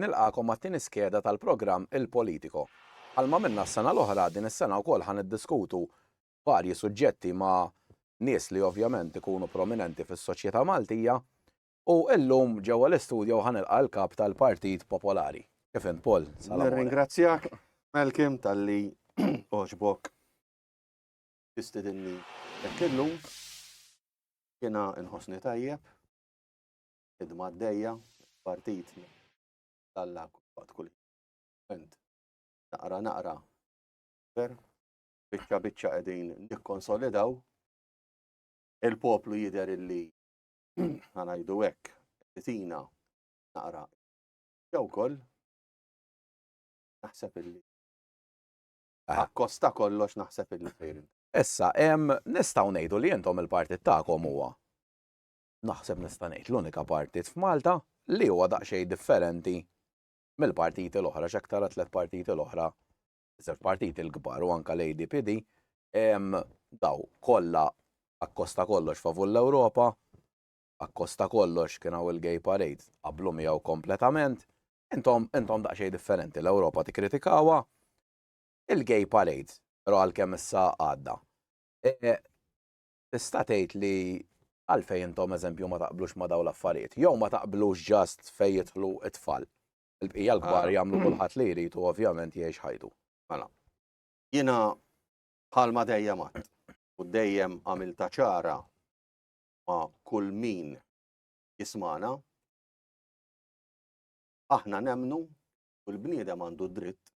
Nilqagħkom għat-tieni skeda tal-programm Il Politico. Bħalma għamilna s-sena l-oħra, din is-sena wkoll ħa niddiskutu varji suġġetti ma' nies li ovvjament ikunu prominenti fis-soċjetà Maltija u illum ġewwa l-istudjo ħa nilqa' l-Kap tal-Partit Popolari. Kif int Paul? Salam. Nirringrazzjak Malcolm talli għoġbok tistidinni hekk illum. Jiena nħossni tajjeb, idma għaddejja, partit tal-la kull kull. Ent, naqra naqra, per, biċċa biċċa qegħdin nikkonsolidaw il-poplu jider illi ħanajdu hekk tina naqra jew koll naħseb illi Akkost ta' kollox naħseb illi fejn. Issa, nistgħu ngħidu li intom il-partit tagħkom huwa naħseb nista' ngħid l-unika partit f'Malta li huwa daqsxejn differenti mill-partiti l-oħra x'hekk tara tliet partiti l-oħra, żewġ partiti l-kbar u anke l-ADPD, daw kollha akkosta kollox favur l-Ewropa, akkosta kollox kien hawn il-gay parade, tqabblu miegħu kompletament, intom intom daqsxejn differenti, l-Ewropa tikkritikawha, il-gay parade ra għal kemm issa għadda. E, tista' tgħid li għalfejn intom eżempju ma taqblux ma dawn l-affarijiet. Jew ma taqblux ġast fejn jidħlu it-tfal. Il-bqija l-kbar ah. jagħmlu kulħadd li jrid u ovvjament jgħix ħajtu. Mela. Jiena bħalma dejjem għad u dejjem għamilta ċara ma' kull min jismana, aħna nemnu u l-bniedem għandu dritt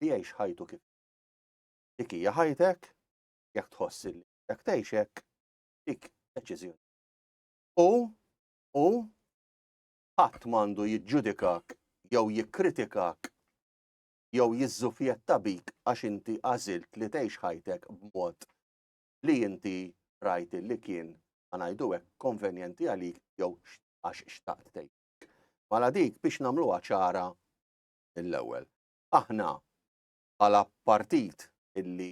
li jgħix ħajtu kif. Dik hija ħajtek, jekk tħoss li jekk tgħixek, dik deċiżjoni. U u ħadd m'għandu jiġġudikak jew jikkritikak jew jiżżufjetta bik għax inti għażilt li tgħix ħajtek b'mod li inti rajt li kien, ma ngħidu hekk, konvenjenti għalik jew għax xtaqt tgħid. Mala dik biex nagħmluha ċara mill-ewwel. Aħna bħala partit illi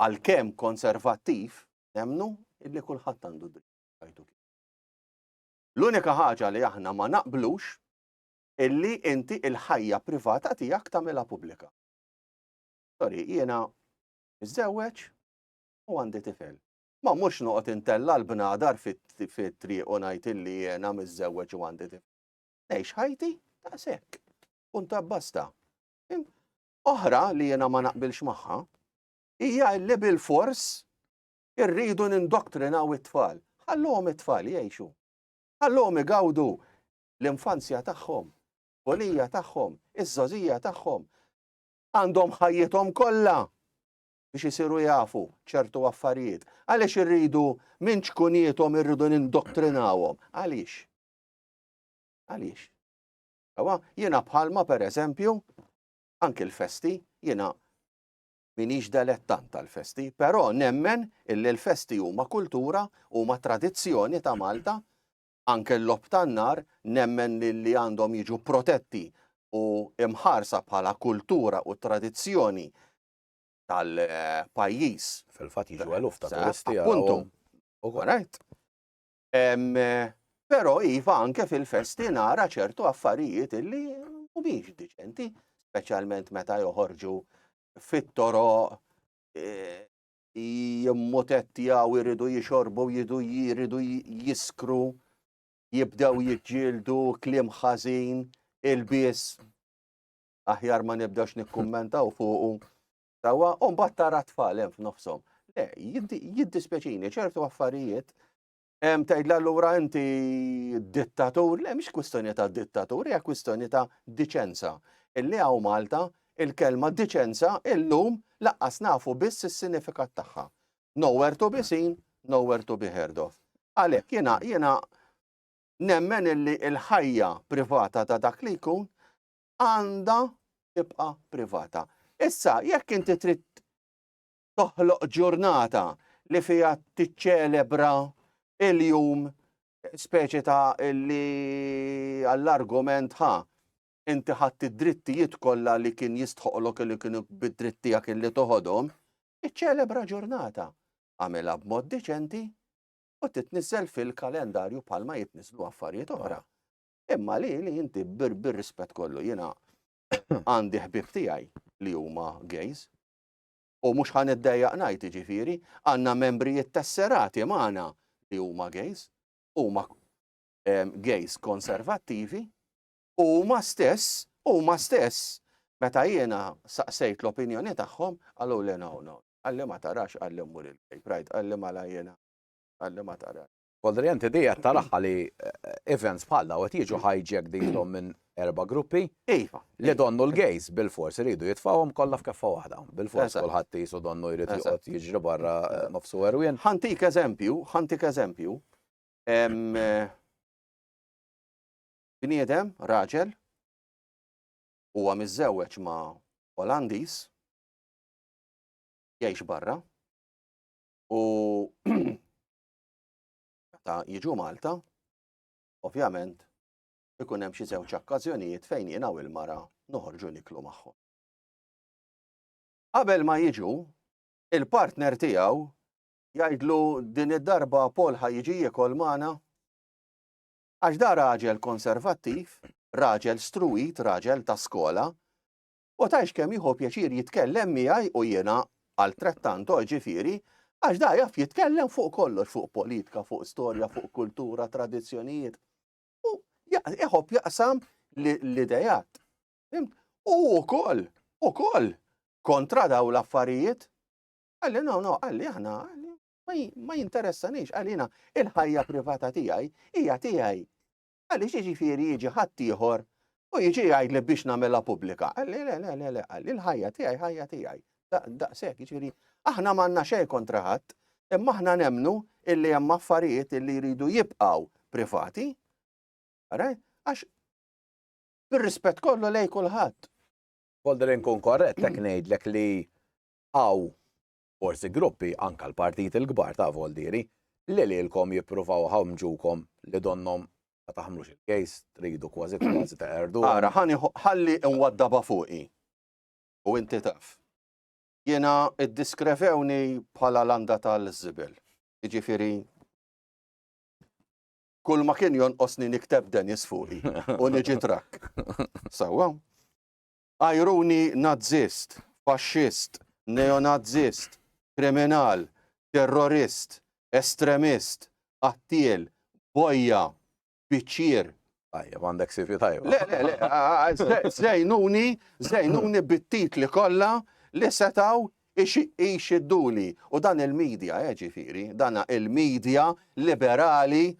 għalkemm konservattiv nemnu illi kulħadd għandu dritt jgħidu kif. L-unika ħaġa li aħna ma naqblux illi inti il-ħajja privata tiegħek tagħmilha pubblika. Sorry, jiena Niżżewweġ u għandi tifel. Ma mhux noqgħod intella' l-bnadar fit-triq u ngħid illi jiena miżżewweġ u għandi tifel. Ngħix ħajti ta' sekk. Punta basta. Oħra li jiena ma naqbilx magħha hija li bil-fors irridu nindoktrinaw it-tfal. Ħallhom it-tfal jgħixu. Ħallhom igawdu l-infanzja tagħhom, bolija tagħhom, iż-żożija tagħhom. għandhom ħajjithom kollha biex isiru jafu ċertu affarijiet. Għaliex irridu minn ċkuniethom irridu nindottrinawhom? Għaliex? Għaliex? Ewa, jiena bħalma per eżempju, anki l-festi, jiena minix delettant tal-festi, però nemmen illi l-festi huma kultura, huma tradizzjoni ta' Malta, anke l-logħob tan-nar, nemmen li li għandhom jiġu protetti u mħarsa bħala kultura u tradizzjoni tal-pajjiż. Fil-fatt jiġu eluf ta' turisti għalihom. Right. Però iva anke fil-festi nara ċertu affarijiet illi mhumiex diċenti, speċjalment meta joħorġu fit-toro e, jimmutettjaw, iridu jixorbu, jidu jiridu jiskru, jibdew jiġġieldu, kliem ħażin, il-bies. Aħjar ma nibdewx nikkummentaw fuqu. Tawa, un battara tfal hemm f'nofshom. Le, jiddispjaċini, ċertu affarijiet Em, tgħidla allura inti dittatur, le mhix kwistjoni ta' dittatur, hija kwistjoni ta' diċenza. Illi hawn Malta il-kelma diċenza illum laqqas nafu biss is-sinifikat tagħha. Nowhere to be seen, nowhere to be heard of. Għalhekk jiena jiena nemmen illi l-ħajja privata ta' dak li jkun għandha tibqa' privata. Issa, jekk inti trid toħloq ġurnata li fiha tiċċelebra il-jum speċi ta' li għall-argument ħa inti ħadd id-drittijiet kollha li kien jistħoqlok li kienu bid-drittijak illi toħodhom, iċċelebra ġurnata. Għamilha b'mod diċenti u titniżel fil-kalendarju bħalma jitniżlu affarijiet oħra. Imma li li inti bir-rispett kollu jiena għandi ħbib tiegħi li huma gays u mhux ħa niddejjaq ngħid jiġifieri, għandna membri ittesserati magħna li huma gays, huma gays konservattivi, u huma stess, huma stess, meta jiena saqsejt l-opinjoni tagħhom, qalu li no, no, għalli ma tarax għalli mmur il-gay pride, għalli ma la jiena, għalli ma tarax. Kodri, inti dejja taraħħa li events bħal daw qed jiġu hijack dejhom minn erba' gruppi. Iva. Li donnu l-gays bil-fors iridu jitfawhom kollha f'keffa waħda. Bil-fors kulħadd jisu donnu jrid joqgħod jiġri barra eh, nofsu erwien. Ħantik eżempju, ħantik eżempju. Eh, bniedem, raġel, huwa miżżewweġ ma' Olandis, jgħix barra, u Meta jiġu Malta, ovvjament, ikun hemm xi żewġ okkażjonijiet fejn jiena u l-mara noħorġu niklu magħhom. Qabel ma jiġu, il-partner tiegħu jgħidlu din id-darba Paul ħa jiġi jiekol magħna għax da raġel konservattiv, raġel struwit, raġel ta' skola, u tgħidx kemm jieħu pjaċir jitkellem miegħi u jiena altrettanto, ġifieri, għax da jaf jitkellem fuq kollox, fuq politika, fuq storja, fuq kultura, tradizzjonijiet. U jħobb jaqsam l-idejat. U wkoll, ukoll kontra daw l-affarijiet. Għalli, no, no, għalli aħna, ma jinteressanix, għalina il-ħajja privata tiegħi hija tiegħi. Għaliex jiġifieri jiġi ħaddieħor u jiġi jgħidli biex nagħmilha pubblika? Qalli le le le le qalli l-ħajja tiegħi ħajja tiegħi. Daqshekk jiġifieri aħna m'għandna xejn kontra ħadd, imma aħna nemnu illi hemm affarijiet illi jridu jibqgħu privati. Ara, għax bir-rispett kollu lej kulħadd. Volder inkun korrett hekk ngħidlek li hawn forsi gruppi anka l-partiti l-kbar ta' voldieri li lilkom jippruvaw iħammġukom li donnhom ma taħmlux il-kejs, tridu kważi kważi teqerduhom. Ara, ħa nieħu, ħalli nwaddabha fuqi u inti taf. Jiena iddiskrevewni bħala landa tal-żibel. Jiġifieri kull ma kien jonqosni nikteb Dennis fuqi u niġi trakk. Sewwa? Ajruni Nazzist, Faxxist, Neonazzist, Kriminal, Terrorist, Estremist, Qattiel, Bojja, Biċċier. Tajjeb, għandek CV tajba. Le, le, le, żejnuni, żejnuni bit-titli kollha li setaw ixiduni. U dan il-medja, eh, ġifiri, dan il-medja liberali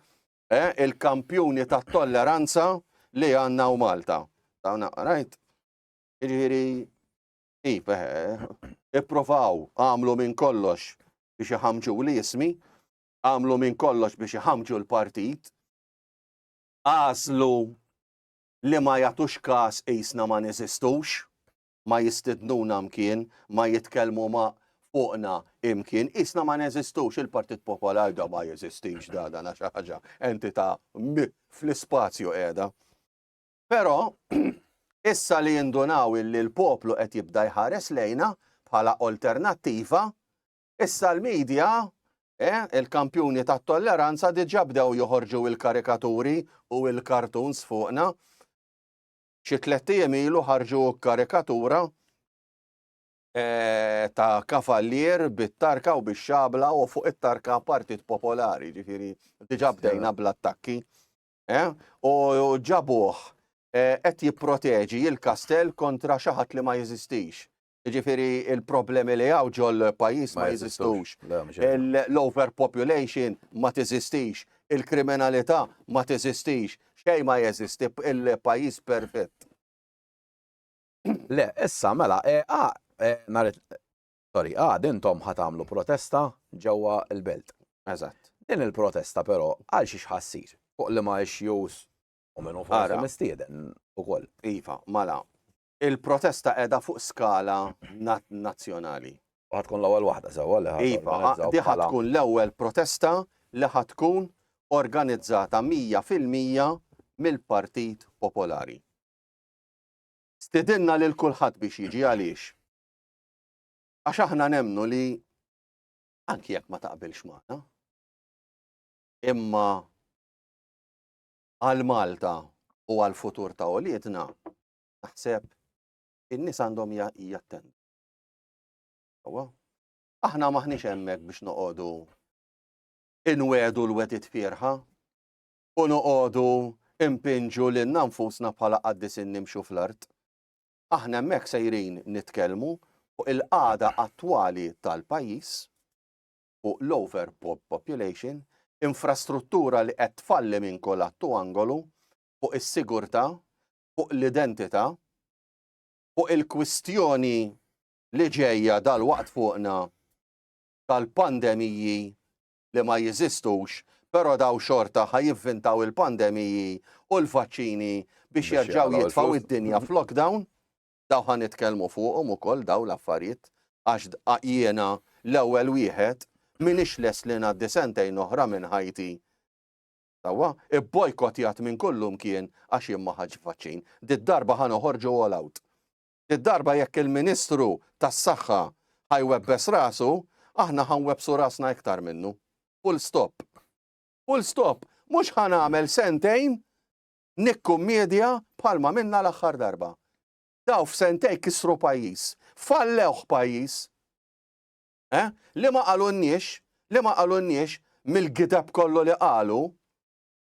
eh, il-kampjuni tat-tolleranza li għandna u Malta. Dawn rajt. Jiġifieri ip eh, eh, ippruvaw għamlu minn kollox biex iħamġu l-ismi, għamlu minn kollox biex iħamġu l-partit, għażlu li ma jagħtux każ qisna ma neżistux, ma jistidnuna mkien, ma jitkellmu ma' fuqna imkien, qisna ma neżistux, il-Partit Popolar da ma jeżistix da dan xi ħaġa entità fl-ispazju qiegħda. Però issa li jindunaw illi l-poplu qed jibda jħares lejna bħala alternattiva, issa l-medja eh, il-kampjuni tat-tolleranza diġà bdew joħorġu il-karikaturi u il-kartuns fuqna. Xi tlett ijiem ilu ħarġu karikatura ta' kavallier bit-tarka u bix-xabla u fuq it-tarka Partit Popolari, ġifieri diġà bdejna bl-attakki. U ġabuh qed jipproteġi l-kastell kontra xi ħadd li ma jeżistix. Jiġifieri l-problemi li hawn ġol-pajjiż ma jeżistux. L-overpopulation ma teżistix. Il-kriminalità ma teżistix. Xejn ma jeżisti, il-pajjiż perfett. Le, issa mela, sorry, għad intom ħa tagħmlu protesta ġewwa l-belt. Eżatt. Din il-protesta però għal xiex ħa ssir? Fuq liema issues u min hu forsi mistieden ukoll? Iva, mela, Il-protesta qiegħda fuq skala nazzjonali. U ħa tkun l-ewwel waħda sewwa li ħa Iva, di ħa tkun l-ewwel protesta li ħa tkun organizzata mija fil-mija mill-Partit Popolari. Stidinna lil kulħadd biex jiġi għaliex. Għax aħna nemnu li anki jekk ma taqbilx magħna. Imma għal Malta u għal futur ta' uliedna Naħseb in-nies għandhom jattendu. Aħna maħniex hemmhekk biex noqogħdu inwedu l-wedit fierħa u noqogħdu impinġu lil nfusna bħala qaddis nimxu fl-art. Aħna hemmhekk sejrin nitkellmu fuq il-qagħda attwali tal-pajjiż fuq l-over population, infrastruttura li qed tfalli minn kolatt u angolu fuq is-sigurtà fuq l-identità, fuq il-kwistjoni li ġejja dalwaqt fuqna tal-pandemiji li ma jeżistux, però dawn xorta ħa jivvintaw il-pandemiji u l-vaċċini biex jerġgħu jitfgħu d-dinja f'lockdown, dawn ħa nitkellmu fuqhom ukoll dawn l-affarijiet għax jiena l-ewwel wieħed m'iniex lest li ngħaddi sentejn oħra minn ħajti sewwa, ibbojkottjat minn kullimkien għax jien ma ħadtx vaċċin. Did-darba ħa noħorġu all out. Did-darba jekk il-Ministru tas-Saħħa ħa jwebbes rasu, aħna ħa nwebbsu rasna iktar minnu. Full stop. Full stop. Mhux ħa nagħmel sentejn nikkummedja bħalma minna l-aħħar darba. Daw f'sentejn kisru pajjiż. Fallewh pajjiż. Eh? Li ma qalunniex, li ma qalunniex mill-gideb kollu li qalu,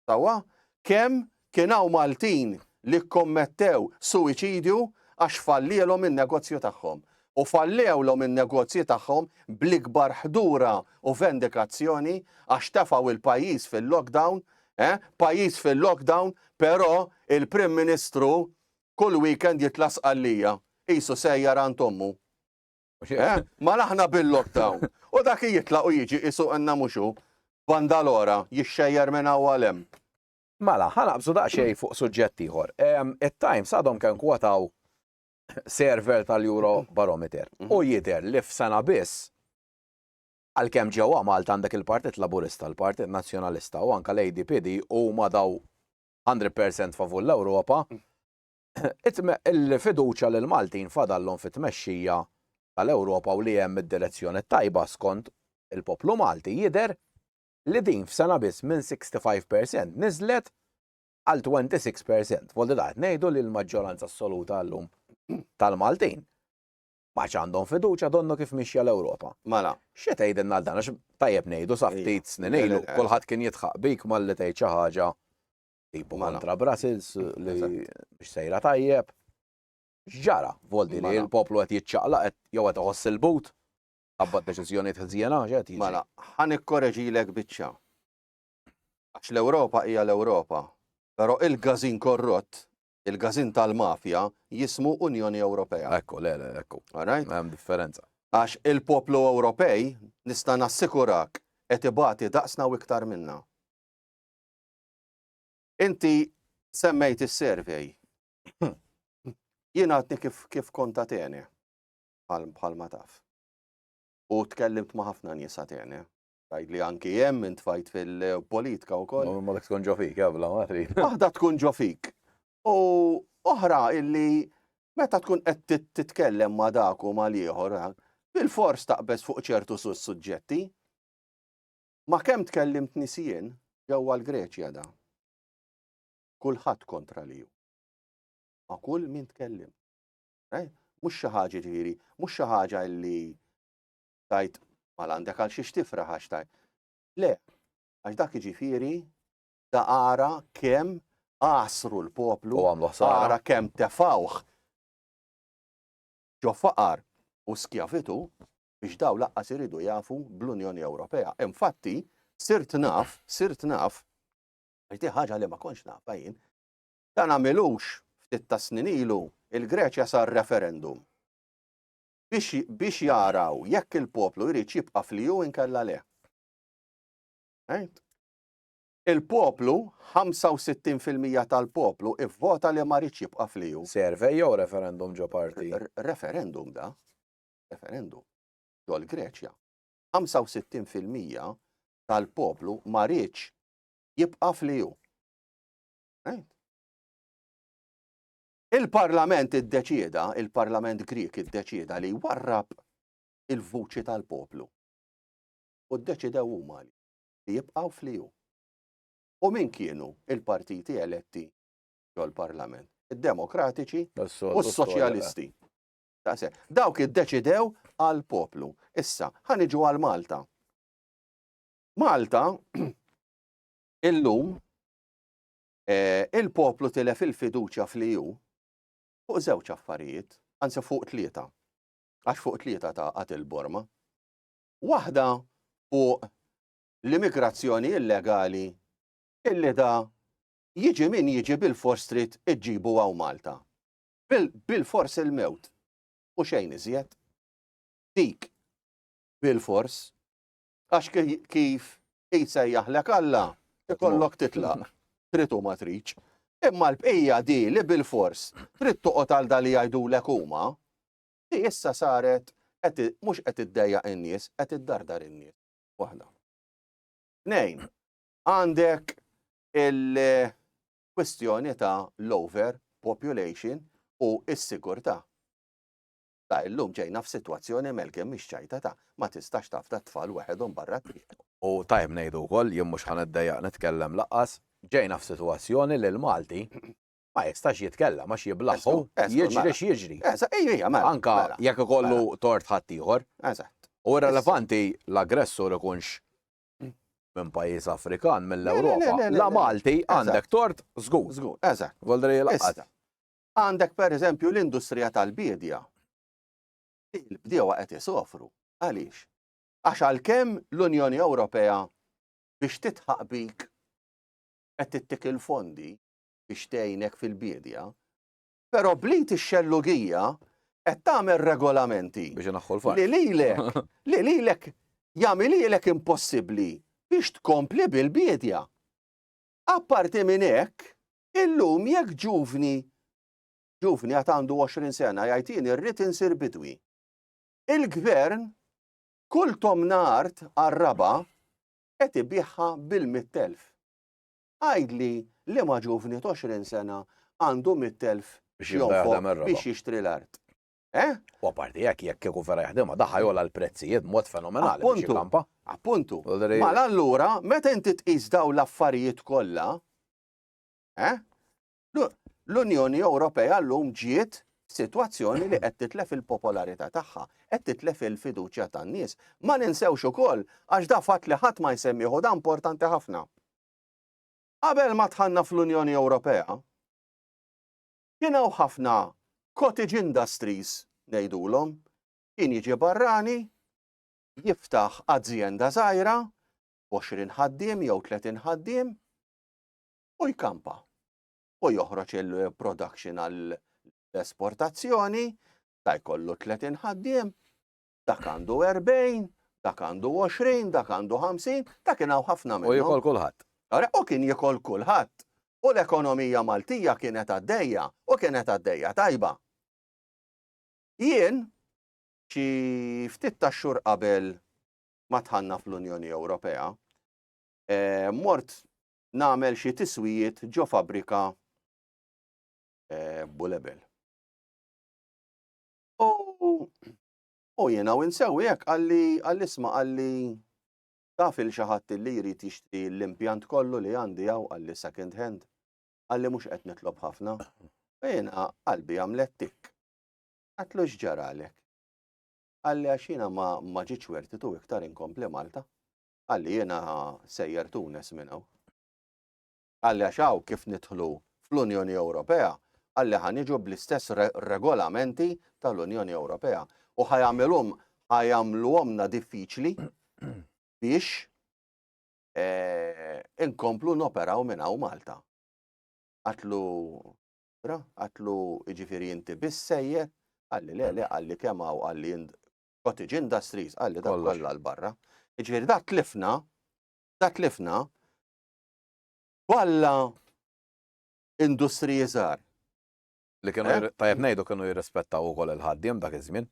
sewwa, kemm kien hawn Maltin li kkommettew suwiċidju għax fallielhom in-negozju tagħhom. U fallewlhom in-negozji tagħhom bl-ikbar ħdura u vendikazzjoni għax tefgħu il-pajjiż fil-lockdown, eh, pajjiż fil-lockdown, però il-Prim Ministru kull weekend jitla' Sqallija, qisu sejjar għand ommu. Eh? Ma laħna bil-lockdown. U dak jitlaq u jiġi isu għanna muxu. Bandalora, jixxejjer minn għawalem. Mela, ħanaqbżu daqxej fuq suġġett ieħor. It-Times għadhom kemm kwataw server tal-Euro Barometer. Mhm. U jider li f'sena biss għalkemm ġewwa Malta għandek il-Partit Laburista, il-Partit Nazzjonalista u anka l-ADPD huma daw 100% favur l-Ewropa, mm. Il-fiduċja li l-Maltin fadallhom fit-tmexxija tal-Ewropa u li hemm id-direzzjoni t-tajba skont il-poplu Malti jidher li din f'sena biss minn 65 per cent niżlet għal 26 per cent. Voldi da qed ngħidu li l-maġġoranza assoluta llum tal-Maltin ma għandhom fiduċja donnu kif mixja l-Ewropa. Mela. Xi tgħidilna għal dan għax tajjeb ngħidu sa ftit snin ilu kulħadd kien jitħaq bik malli tgħid xi ħaġa Ibu kontra Brussels li biex sejra tajjeb. X'ġara voldi li l-poplu qed jiċċaqlaq qed jew qed iħoss il-but qabad deċiżjonijiet ħżiena x'qed jiġi. Mela, ħa nikkoreġilek biċċa. Għax l-Ewropa hija l-Ewropa, però il-gażin korrott, il-gażin tal-mafja jismu Unjoni Ewropea. Ekku, le, le, ekku. Hemm differenza. Għax il-poplu Ewropej nista' nassikurak qed ibati daqsna u iktar minna. Inti semmejt is-survey. Jien għadni kif, kif kont Atene, bħal ma taf. U tkellimt ma ħafna nies Atene. Għajd li anki jem minn tfajt fil-politika u koll. Ma dak tkun ġofik, għabla, ma trid. Waħda tkun ġofik. U oħra illi meta tkun qed titkellem ma dak u ma l-ieħor, bil-fors taqbeż fuq ċertu suġġetti. Ma kemm tkellimt nies jien ġewwa l-Greċja da. Kulħadd kontra li hu. Ma kull min tkellim. Eh? Mhux xi ħaġa ġifieri, mhux xi ħaġa li tajt mal għandek għal xiex tifraħ għax tajt. Le, għax dak ġifieri da ara kemm għasru l-poplu, ara kemm tefawh ġo faqar u skjavitu, biex dawn laqqas iridu jafu bl-Unjoni Ewropea. Infatti, sirt naf, sirt naf, għajti ħaġa li ma konx nafa jien, ta' namilux ftit ta' snin ilu il-Greċja sar referendum biex jaraw jekk il-poplu jrid jibqa' fliju inkella le. Il-poplu, 65% tal-poplu, ivvota li ma rridx jibqa' fliju. Servej jew referendum ġo parti? Referendum da. referendum, ġol Greċja, 65 fil-mija tal-poplu ma rridx jibqa' fl-EU. Il-Parlament iddeċieda, il-Parlament Grik iddeċieda li warrab il-vuċi tal-poplu. U ddeċidew huma li jibqgħu fliju. U min kienu il-partiti eletti ġol-Parlament? Id-Demokratiċi u s-Soċjalisti. Daqshekk. Dawk iddeċidew għal poplu. Issa, ħa niġu għal Malta. Malta, illum, eh, il-poplu tilef il-fiduċja fl-EU fuq żewġ affarijiet, anzi fuq tlieta. Għax fuq tlieta ta' għat il-borma. Waħda fuq l-immigrazzjoni illegali illi da jiġi min jiġi bil-forstrit iġġibu għaw Malta. Bilfors il-mewt, u xejn iżjed. Dik, bilfors, għax kif jsejjaħlek Alla, ikollok titlaq, trid u ma tridx. Imma l-bqija di li bilfors trid toqgħod għal da li jgħidulek huma, di issa saret mhux qed iddejjaq in-nies, qed iddardar in-nies. Waħda. Tnejn, għandek il- kwistjoni ta' l-over population u s-sigurtà. Ta' illum ġejna f'sitwazzjoni melkin mixċajtata, ma tistax tafda t-tfal weħedhom barra t-triq. U tajjeb ngħidu wkoll, jien mhux ħa niddejjaq nitkellem lanqas, ġejna f'sitwazzjoni li l-Malti ma jistax jitkellem għax jiblaħħu jiġri x'jiġri. Anke jekk ikollu tort ħaddieħor. U irrelevanti l-aggressur ikunx minn pajjiż Afrikan mill-Ewropa. La Malti għandek tort żgur. Żgur, eżatt. Voldri laqgħet. Għandek pereżempju l-industrija tal-biedja. Il-bdiewa qed isofru. Għaliex? Għax għalkemm l-Unjoni Ewropea biex titħaq bik qed tittik il-fondi biex tgħinek fil-biedja, Però bl-id ix-xellugija qed tagħmel regolamenti. Biex ineħħu l-faqar. Li lilek, li lilek jagħmilhielek impossibbli biex tkompli bil-biedja. Apparti minn hekk, illum jekk ġuvni, ġuvni għad għandu 20 sena jgħid jien irrid insir bidwi. Il-gvern kull tomna art għar-raba qed ibiħha bil-mittelf. Għidli liema ġuvni t'għoxrin sena għandu mitt elf x'jonfoq biex jixtri l-art? Eh? U apparti hekk jekk kieku vera jaħdimha daħ ħa jogħla l-prezzijiet b'mod fenomenali biex jikkampa. Appuntu. Mela allura meta inti tqis dawn l-affarijiet kollha, eh? L-Unjoni Ewropea llum ġiet f'sitwazzjoni li qed titlef il-popolarità tagħha, qed titlef il-fiduċja tan-nies. Ma ninsewx ukoll għax da fatt li ħadd ma jsemmih u da importanti ħafna. Qabel ma dħalna fl-Unjoni Ewropea, kien hawn ħafna cottage industries ngħidulhom, kien jiġi barrani, jiftaħ azjenda żgħira, 20 ħaddiem jew 30 ħaddiem, u jkampa u joħroġ il-production għall-esportazzjoni, ta' jkollu 30 ħaddiem, dak għandu 40, dak għandu 20, dak għandu 50, ta' kien hawn ħafna minnhom. U jikol kulħadd. U kien jikol kulħadd. U l-ekonomija Maltija kienet għaddejja u kienet għaddejja tajba. Jien xi ftit ta' xhur qabel ma tħanna fl-Unjoni Ewropea, eh, mort nagħmel xi tiswijiet ġo fabbrika eh, Bulebel. U jiena u nsewi hekk għalli għall-isma għalli taf il xi ħadd li jrid jixtri l-impjant kollu li għandi hawn għalli second hand għalli mhux qed nitlob ħafna. U jiena qalbi għamlet tik. Għatlu x'ġaralek. Għalli għax jiena ma ġietx wertitu iktar inkompli Malta. Qalli jiena sejjer Tunes minn hawn. Qalli għax hawn kif nidħlu fl-Unjoni Ewropea, qalli ħa niġu bl-istess regolamenti tal-Unjoni Ewropea u ħa jagħmilhom ħa jagħmluhomna diffiċli biex inkomplu noperaw minn hawn Malta. Għatlu ra, għatlu jiġifieri inti biss sejjer, qalli le le qalli kemm hawn qalli cottage industries, qalli dak Kollox. kollha l-barra. Jiġifieri dak tlifna, dak tlifna kollha industriji żgħar. Li kienu Eh? jir- tajjeb ngħidu kienu jirrispettaw ukoll il-ħaddiem dak iż-żmien.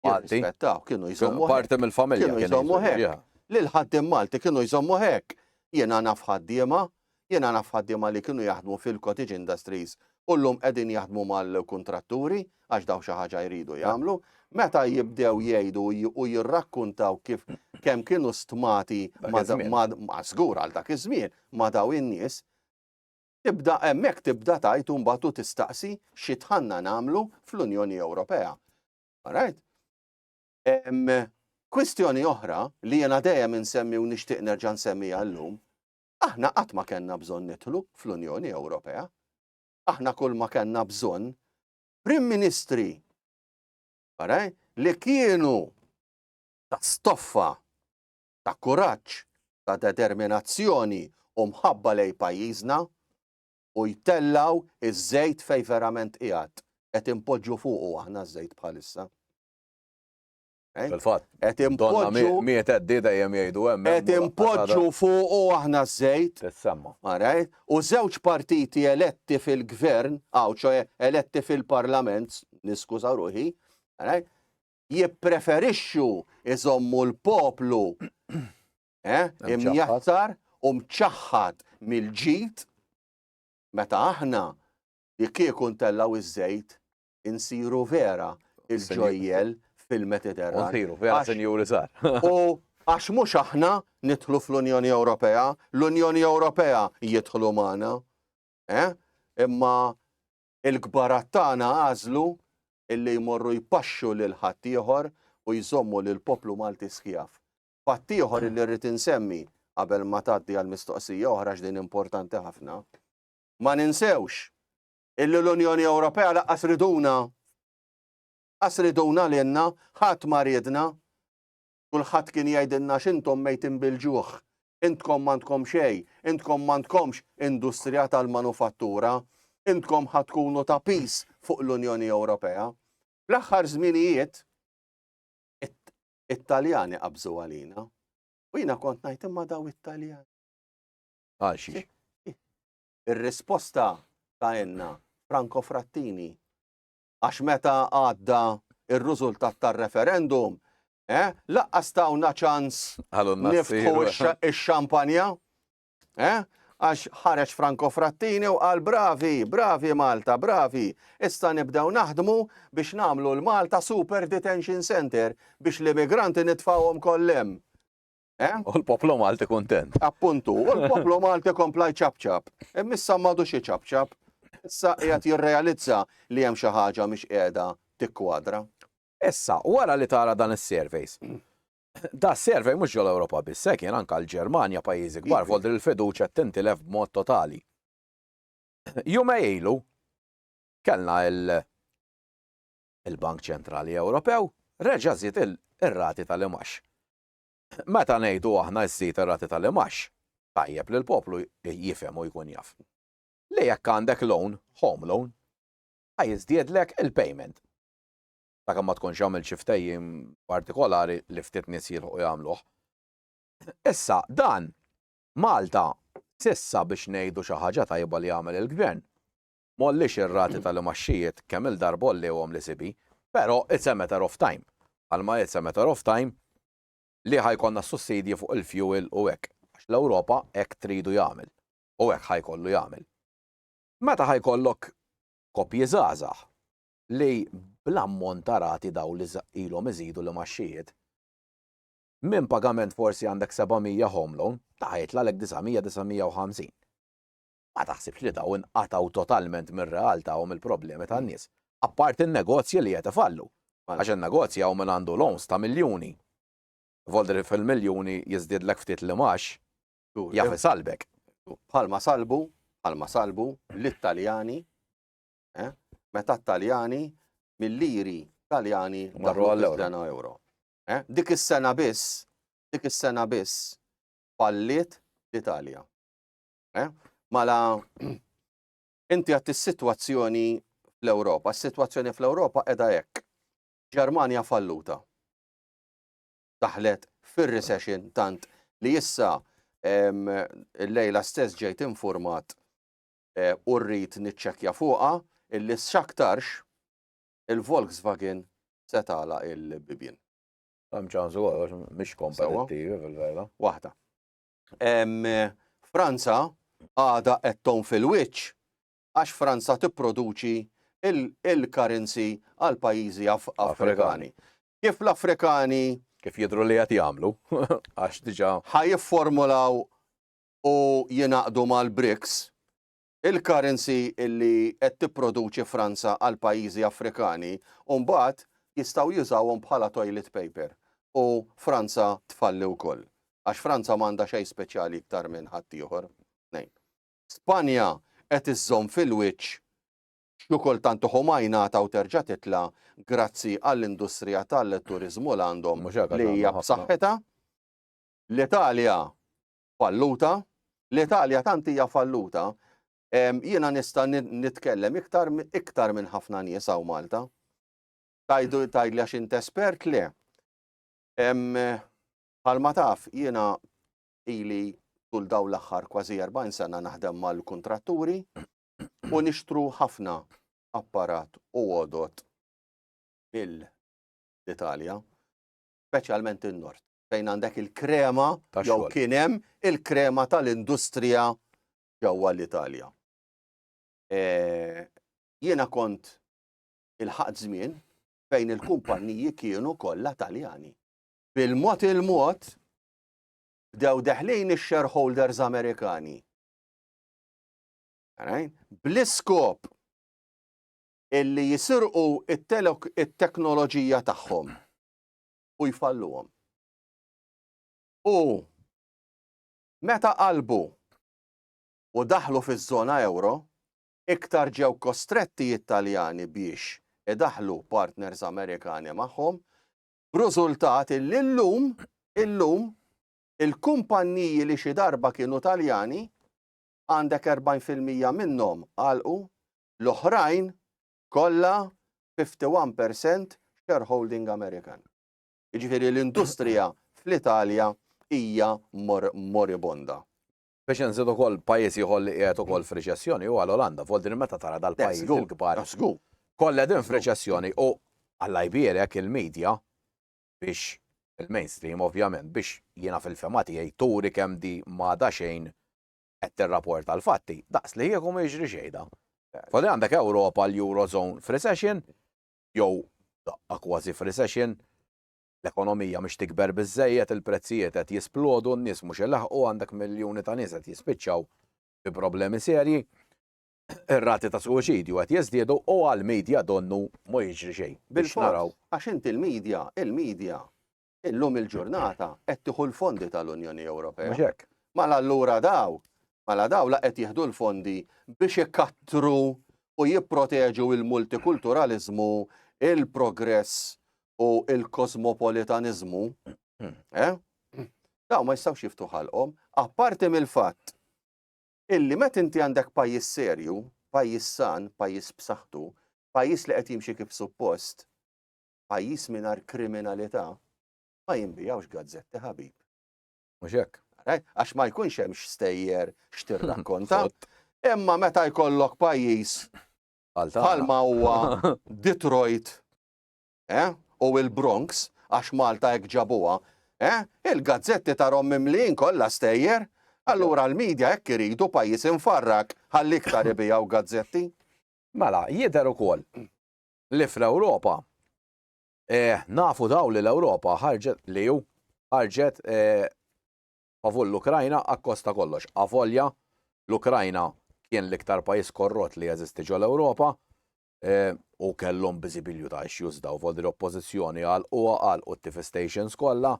Malti. Jirrispettaw, kienu Kienu jżommu hekk. parti mill-familja. kienu kienu jżommu jżommu, hekk. yeah. Lil ħaddiem Malti kienu jżommu hekk. Jiena naf ħaddiema Jiena naf ħaddiema li kienu jaħdmu fil-cottage industries u llum qegħdin jaħdmu mal-kuntratturi għax dawn xi ħaġa jridu jagħmlu. Meta jibdew jgħidu u jirrakkuntaw kif kemm kienu stmati ma' żgur għal dak iż-żmien ma' dawn in-nies, tibda hemmhekk tibda tgħid u mbagħad u tistaqsi xi dħalna nagħmlu fl-Unjoni Ewropea. Alright? Kwistjoni oħra li jiena dejjem insemmi u nixtieq nerġa' nsemmiha llum Aħna qatt ma kellna bżonn nidħlu fl-Unjoni Ewropea. Aħna kulma kellna bżonn Prim Ministri li kienu ta' stoffa, ta' kuraġġ, ta' determinazzjoni u mħabba lejn pajjiżna u jtellgħu ż-żejt fejn verament qiegħed. Qed inpoġġu fuqu aħna ż-żejt bħalissa. Eh? Fil-fatt, qed impoġġu miet għeddi dejjem jgħidu hemm. Qed impoġġu fuq u aħna żejt. Tissemma. Maraj, u żewġ partiti eletti fil-gvern, għaw ċoħe eletti fil-parlament, niskuża ruħi, maraj, jippreferixxu iżommu l-poplu eh, imjattar u mċaħħat mill-ġid meta aħna jekk ikun tellaw iż-żejt insiru vera il-ġojjel fil-Mediterran. Nsiru, vera sinjuri sar. U għax mhux aħna nidħlu fl-Unjoni Ewropea, l-Unjoni Ewropea jidħlu magħna. Eh? Imma il-kbarat tagħna għażlu illi jmorru jpaxxu lil ħaddieħor u jżommu lil poplu Malti skjaf. Fattieħor illi rrid insemmi qabel ma tgħaddi għal mistoqsija oħra x'din importanti ħafna. Ma ninsewx illi l-Unjoni Ewropea lanqas riduna. Qas riduna lilna, ħadd ma riedna. Kulħadd kien jgħidilna x'intom mejtin bil-ġuħ, intkom m'għandkom xejn, intkom m'għandkomx industrija tal-manufattura, intkom ħa tkunu ta' piż fuq l-Unjoni Ewropea. Fl-aħħar żminijiet it-Taljani qabżu għalina. U jiena kont ngħid imma daw it-Taljani. Għal xi? ir-risposta ta' Enna Franco Frattini. Għax meta għadda ir-rużultat tar-referendum, eh, laqqas tawna ċans niftħu x-xampanja, eh, għax ħareġ Franco Frattini u qal bravi, bravi Malta, bravi, issa nibdew naħdmu biex namlu l-Malta Super Detention Center biex l-immigranti nitfawhom kollem. U l-poplu Malti kuntent. Appuntu, u l-poplu Malti kompla jċabċab. Imma issa m'għadux iċabċab. Issa qiegħed jirrealizza li hemm xi ħaġa mhix qiegħda tikkwadra. Issa, wara li tara dan is-surveys, Da survey mhux ġol Ewropa biss, hekk jien anke l-Ġermanja pajjiżi kbar iva. fodri l-fiduċja tintilef b'mod totali. Jumej ilu kellna il-Bank Ċentrali Ewropew reġa' żied ir-rati tal-imax. Meta ngħidu aħna żżid ir-rati tal-imgħax, tajjeb li l-poplu jifhem u jkun jaf li jekk għandek loan, home loan, ħa jiżdiedlek il-payment. Sakemm ma tkunx għamilt xi ftehim partikolari li ftit nies jilħqu jagħmluh. Issa, dan, Malta, s'issa biex ngħidu xi ħaġa tajba li għamel il-Gvern, M'għolliex ir-rati tal-imgħaxxijiet kemm-il darba għolliewhom l-ECB, però it's a matter of time, bħalma it's a matter of time li ħa jkollna s-sussidji fuq il-fuel u hekk, għax l-Ewropa hekk tridu jagħmel u hekk ħa jkollu jagħmel. Meta ħa jkollok koppji żgħażagħ li bl-ammont ta' rati dawl li ilhom iżidu l-imgħaxxijiet, minn pagament forsi għandek 700 home loan, ta' jitla' lek 900, 950. Ma taħsibx li dawn inqatgħu totalment mir-realtà u mill-problemi tan-nies, apparti n-negozji li qed ifallu. Għax in-negozji hawn min għandu loans ta' miljuni. Voldri fil-miljuni jiżdiedlek ftit l-imgħax, jaf isalbek. Bħalma salbu, bħalma salbu lit-Taljani, eh, meta t-Taljani mil-liri Taljani marru għall-euro. euro. Eh, dik is-sena biss, dik is-sena biss falliet l-Italja. Eh? Mala, inti għat is-sitwazzjoni fl-Ewropa. Is-sitwazzjoni fl-Ewropa edha hekk. Ġermanja falluta. Daħlet fir-recession tant li issa il-lejla stess ġejt informat eh, u rrit niċċekja fuqa illi xaktarx il-Volkswagen setala il-bibin. Għam ċansu għax, mish kompetittivi fil-vera. Wahda. Franza għadha qed tgħum fil-wiċċ għax Franza tipproduċi il-currency għal pajjiżi Afrikani. Kif l-Afrikani kif jidru li qed jagħmlu għax diġà ħajifformulaw u jinaqdu mal-BRICS il-currency li qed tipproduċi Franza għall-pajjiżi Afrikani u mbagħad jistgħu jużawhom bħala toilet paper u Franza tfalli wkoll. Għax Franza m'għandha xejn speċjali iktar minn ħaddieħor. Tnejn. Spanja qed iżżomm fil-wiċċ xi kultant uħu ma jingħata u terġa' titla' grazzi għall-industrija tal-turiżmu l għandhom li hija b'saħħitha. L-Italja falluta, l-Italja tant hija falluta, jiena nista' nitkellem iktar iktar minn ħafna nies hawn Malta. Tajdu tgħidli għax int espert le. Bħalma taf jiena ili tul daw l-aħħar kważi 40 sena naħdem mal-kuntratturi u nixtru ħafna apparat u għodot mill-Italja, speċjalment in-Nord. fejn għandek il-krema jew kien hemm il-krema tal-industrija ġewwa l-Italja. Jiena kont il-ħadd żmien fejn il-kumpanniji kienu kollha Taljani. Bil-mod il-mod bdew deħlin ix-shareholders Amerikani. Bl-iskop illi jisirqu it-teknoloġija tagħhom. u jfalluhom. U meta qalbu u daħlu fiż-żona euro, iktar ġew kostretti it-Taljani biex idaħħlu partners Amerikani magħhom, b'rużultat illi llum, illum, il-kumpanniji li xi darba kienu Taljani, għandek 40 fil-mija minnhom għalqu, l-oħrajn kollha 51 per cent shareholding American. Jiġifieri l-industrija fl-Italja hija moribonda. Biex inżid ukoll pajjiż ieħor li qiegħed ukoll f'riċessjoni huwa l-Olanda, vot din meta tara dal-pajjiżi l-kbar kollha qegħdin f'riċessjoni u Alla jbierek il-media biex il-mainstream ovvjament biex jiena fil-fehma tiegħi turi kemm di m'għadha xejn qed tirrapporta l-fatti daqs li kieku ma jiġri xejn da. Fadli għandek Ewropa l-Eurozone f'recession, jew daqqa kważi f'recession, l-ekonomija mhix tikber biżżejjed, il-prezzijiet qed jisplodu, n-nies mhux ilaħħqu, għandek miljuni ta' nies qed jispiċċaw bi problemi serji, ir-rati ta' suwiċidju qed jiżdiedu u għall-media donnu ma jiġri xejn. Bil-fors, għax inti l-media, il-media illum il-ġurnata qed tieħu l-fondi tal-Unjoni Ewropea. Mhux hekk. Mala allura daw, mala daw la qed jieħdu l-fondi biex ikattru u jipproteġu il-multikulturaliżmu, il-progress u il-kosmopolitaniżmu. Eh? Daw ma jistgħux jiftu ħalqhom, apparti mill-fatt illi met inti għandek pajjiż serju, pajjiż san, pajjiż b'saħħtu, pajjiż li qed jimxi kif suppost, Pajjiż mingħajr kriminalità ma jinbigħux gazzetti ħabib. Mhux hekk. Għax ma jkunx hemm x'stejjer x'tirrakkonta. Imma meta jkollok pajjiż bħalma huwa Detroit eh, u il-Bronx għax Malta hekk ġabuha, eh, il-gazzetti tarhom mimlijin kollha stejjer, allura l-medja hekk iridu pajjiż infarrak ħalli iktar ibijaw gazzetti. Mela, jidher ukoll li fl-Ewropa eh, nafu daw li l-Ewropa ħarġet li ju ħarġet eh, favur l-Ukrajna akkosta kollox. Avolja l-Ukrajna kien l-iktar pajis korrot li jeżisti ġol Ewropa eh, u kellhom biżibilju ta' issues daw voldi l-oppożizzjoni għal u għal u t-TV stations kollha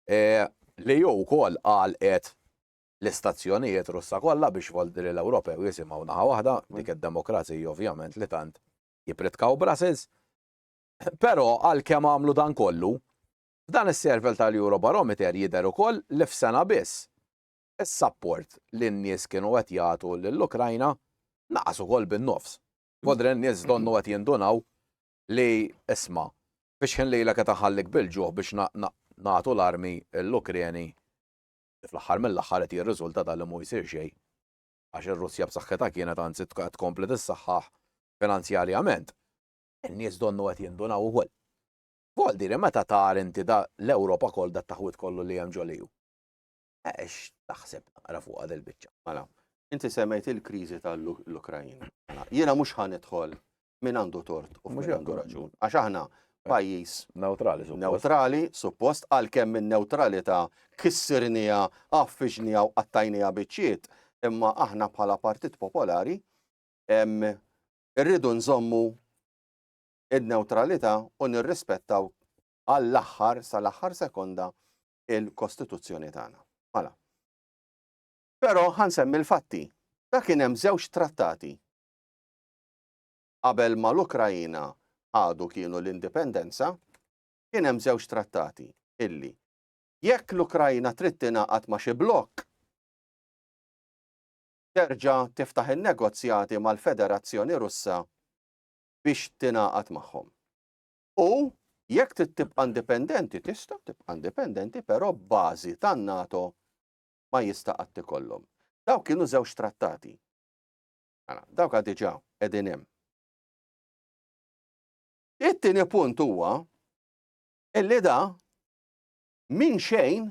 eh, li ju wkoll għal qed l-istazzjonijiet russa kollha biex voldi l-Ewropew jisimgħu naħa waħda dik id-demokrazija ovvjament li tant jippritkaw Brussels. Però għalkemm għamlu dan kollu, f'dan is-servel tal-Eurobarometer jidher ukoll li f'sena biss, is-sapport li n-nies kienu qed jagħtu lill-Ukrajna naqas ukoll bin-nofs. F'Odra n-nies donnu qed jindunaw li isma', fix-xħin lejlek qed inħallik bil-ġuħ biex nagħtu l-armi lill-Ukreni li fl-aħħar mill-aħħar qed jirriżulta ta' li mhu jsir xejn għax ir-Russja b'saħħitha kienet anzi qed tkompli tissaħħaħ finanzjarjament. In-nies donnu qed jindunaw ukoll. Vol dire meta tar inti da l-Ewropa koll da taħwit kollu li hemm ġoliju. Ex taħseb naqra fuqha del biċċa. Mela, inti semmejt il-kriżi tal-Ukrajina. Mela, jiena mhux ħanidħol min għandu tort u min għandu raġun. Għax aħna eh, pajjiż neutrali suppost. Neutrali suppost għalkemm minn neutralità kissirnija, affiġnija u qattajnija biċċiet, imma aħna bħala Partit Popolari irridu nżommu id-neutralità u nirrispettaw għall-aħħar sal-aħħar sekonda il-Kostituzzjoni tagħna. Mala. Però ħansemmi l-fatti. Da kien hemm żewġ trattati Qabel ma l-Ukraina ħadu kienu l-indipendenza, kien hemm żewġ trattati illi, jekk l-Ukraina trid tingħaqad ma' xi blokk, terġa' tiftaħ in-negozjati mal-Federazzjoni Russa biex tingħaqad magħhom. U jekk trid tibqa' indipendenti, tista' tibqa' indipendenti, però bażi tan-NATO ma jista' qatt ikollhom. Dawk kienu żewġ trattati. Mela, dawk għad diġà qegħdin hemm. It-tieni punt huwa illi da minn xejn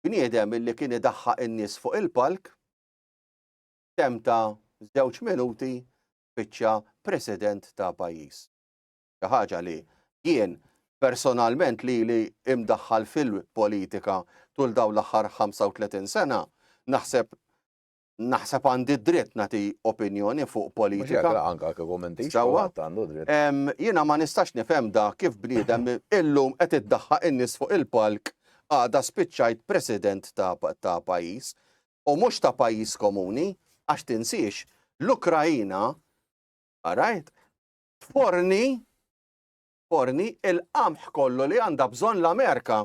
bniedem illi kien idaħħa in-nies fuq il-palk temta żewġ minuti biċċa president ta' pajjiż. Xi ħaġa li jien personalment li li imdaħħal fil-politika tul dawn l-aħħar 35 sena naħseb naħseb għandi dritt nagħti opinjoni fuq politika. Anka kieku m'intix għandu dritt. Jiena ma nistax nifhem da kif bniedem illum qed iddaħħaq in-nies fuq il-palk għada spiċċajt president ta' pajjiż u mhux ta' pajjiż komuni għax tinsiex l-Ukrajina għarajt forni forni il-qamħ kollu li għandha bżonn l-Amerika.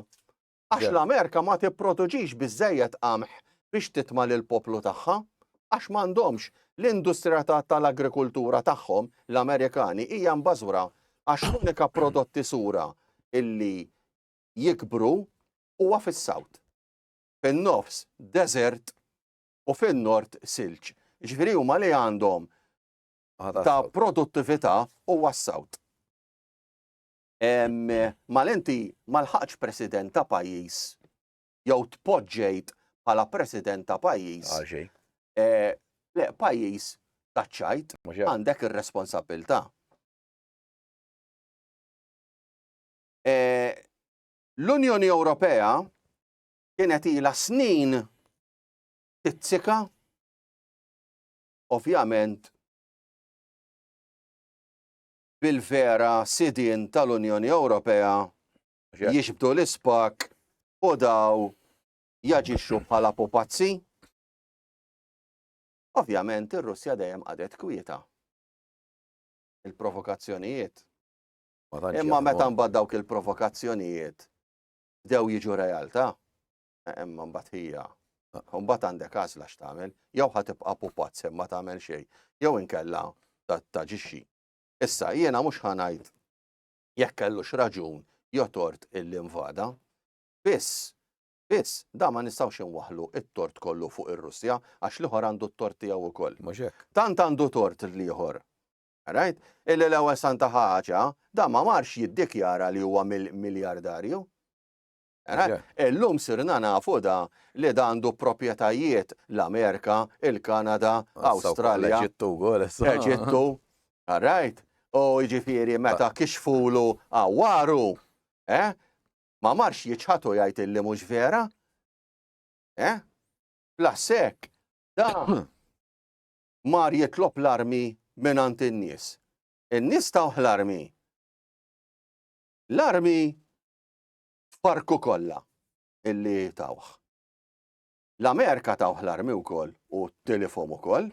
Għax l-Amerika ma tipproduċix biżżejjed qamħ biex titma' lill-poplu tagħha. Għax m'għandhomx. L-industrija tal-agrikultura tagħhom, l-Amerikani, hija mbażwra għax l-unika prodotti sura li jikbru huwa fis-South. Fin-Nofs, deżert u fin-Nord, silġ. Jiġifieri huma li għandhom ta' produttività huwa s-South. Mal inti ma lħaqx president ta' pajjiż jew tpoġġejt bħala president ta' pajjiż. Eh, le, pajjiż taċċajt għandek ir-responsabilità. Eh, L-Unjoni Ewropea kienet ila snin tizzika ovvjament bil-vera sidien tal-Unjoni Ewropea jiġbdu l-ispak u daw jaġixxu bħala pupazzi. Ovvjament ir-Russja dejjem qadet kwieta. Il-provokazzjonijiet. Imma meta mbagħad dawk il-provokazzjonijiet bdew jiġu realtà. Imma mbagħad hija Mbagħad għandek għażla x'tagħmel, jew ħa tibqa' pupazz ma tagħmel xejn, jew inkella taġixxi. Issa jiena mhux ħanajt jekk kellux raġun jotort il-invada, biss Biss, da ma nistawx inwaħlu it-tort kollu fuq ir-Russja għax liħor għandu t-tort tiegħu wkoll. Tant għandu tort l-ieħor. Right? Illi l-ewwel santa ħaġa, da ma marx jiddikjara li huwa miljardarju. Illum sirna nafu da li da għandu proprjetajiet l-Amerika, il-Kanada, Awstralja, Eġittu, all right? U jiġifieri meta kixfulu għawaru, eh? Ma marx jiċħad u jgħid illi mhux vera? Eh? Plus hekk, da mar jitlob l-armi minn għand in-nies. In-nies tawh l-armi. L-armi f'parku kollha illi tawh. L-Amerika tawh l-armi wkoll u t-telefon ukoll.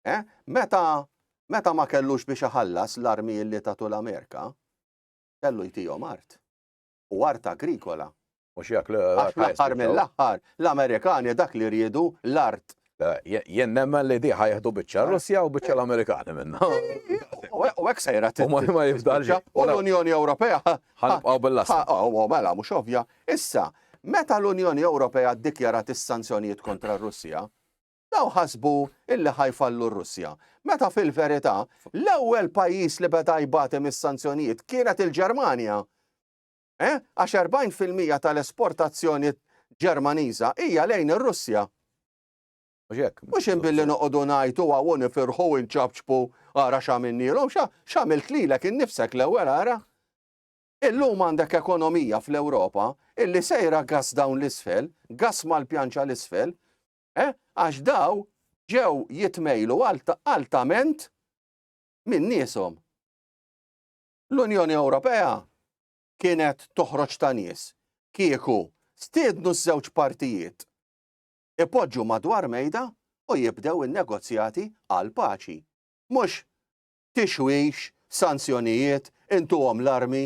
Eh? Meta meta ma kellux biex iħallas l-armi illi tatu l-Amerika, kellu jtijom art. U art agrikola. U xiak l-aħħar mill-aħħar, l-Amerikani dak li rridu l-art Jien nemmen li diħa jieħdu biċċa Russja u biċċa l-Amerikani minna. U hekk sejra t Ma ma jifdalx. U l-Unjoni Ewropea. Ħanibqgħu bil-lassa. U mela mhux ovvja. Issa, meta l-Unjoni Ewropea ddikjarat is-sanzjonijiet kontra r-Russja, daw ħasbu illi ħajfallu r-Russja. Meta fil-verità, l-ewwel pajjiż li beda jbati mis-sanzjonijiet kienet il-Ġermanja. għax 40 fil-mija tal-esportazzjoni Ġermaniża hija lejn ir-Russja. Mhux hekk. Mhux inbilli noqogħdu ngħajtu hawn u nifirħu u nċabċbu ara x'għamilnielhom, x'għamilt lilek innifsek l-ewwel ara. Illum għandek ekonomija fl-Ewropa illi sejra gass dawn l-isfel, gass mal-pjanċa l-isfel, eh, għax daw ġew jitmejlu altament minn nieshom. L-Unjoni Ewropea kienet toħroġ ta' nies kieku stiednu ż-żewġ partijiet ipoġġu madwar mejda u jibdew in-negozjati għall-paċi. Mhux tixwix, sanzjonijiet, intuhom l-armi.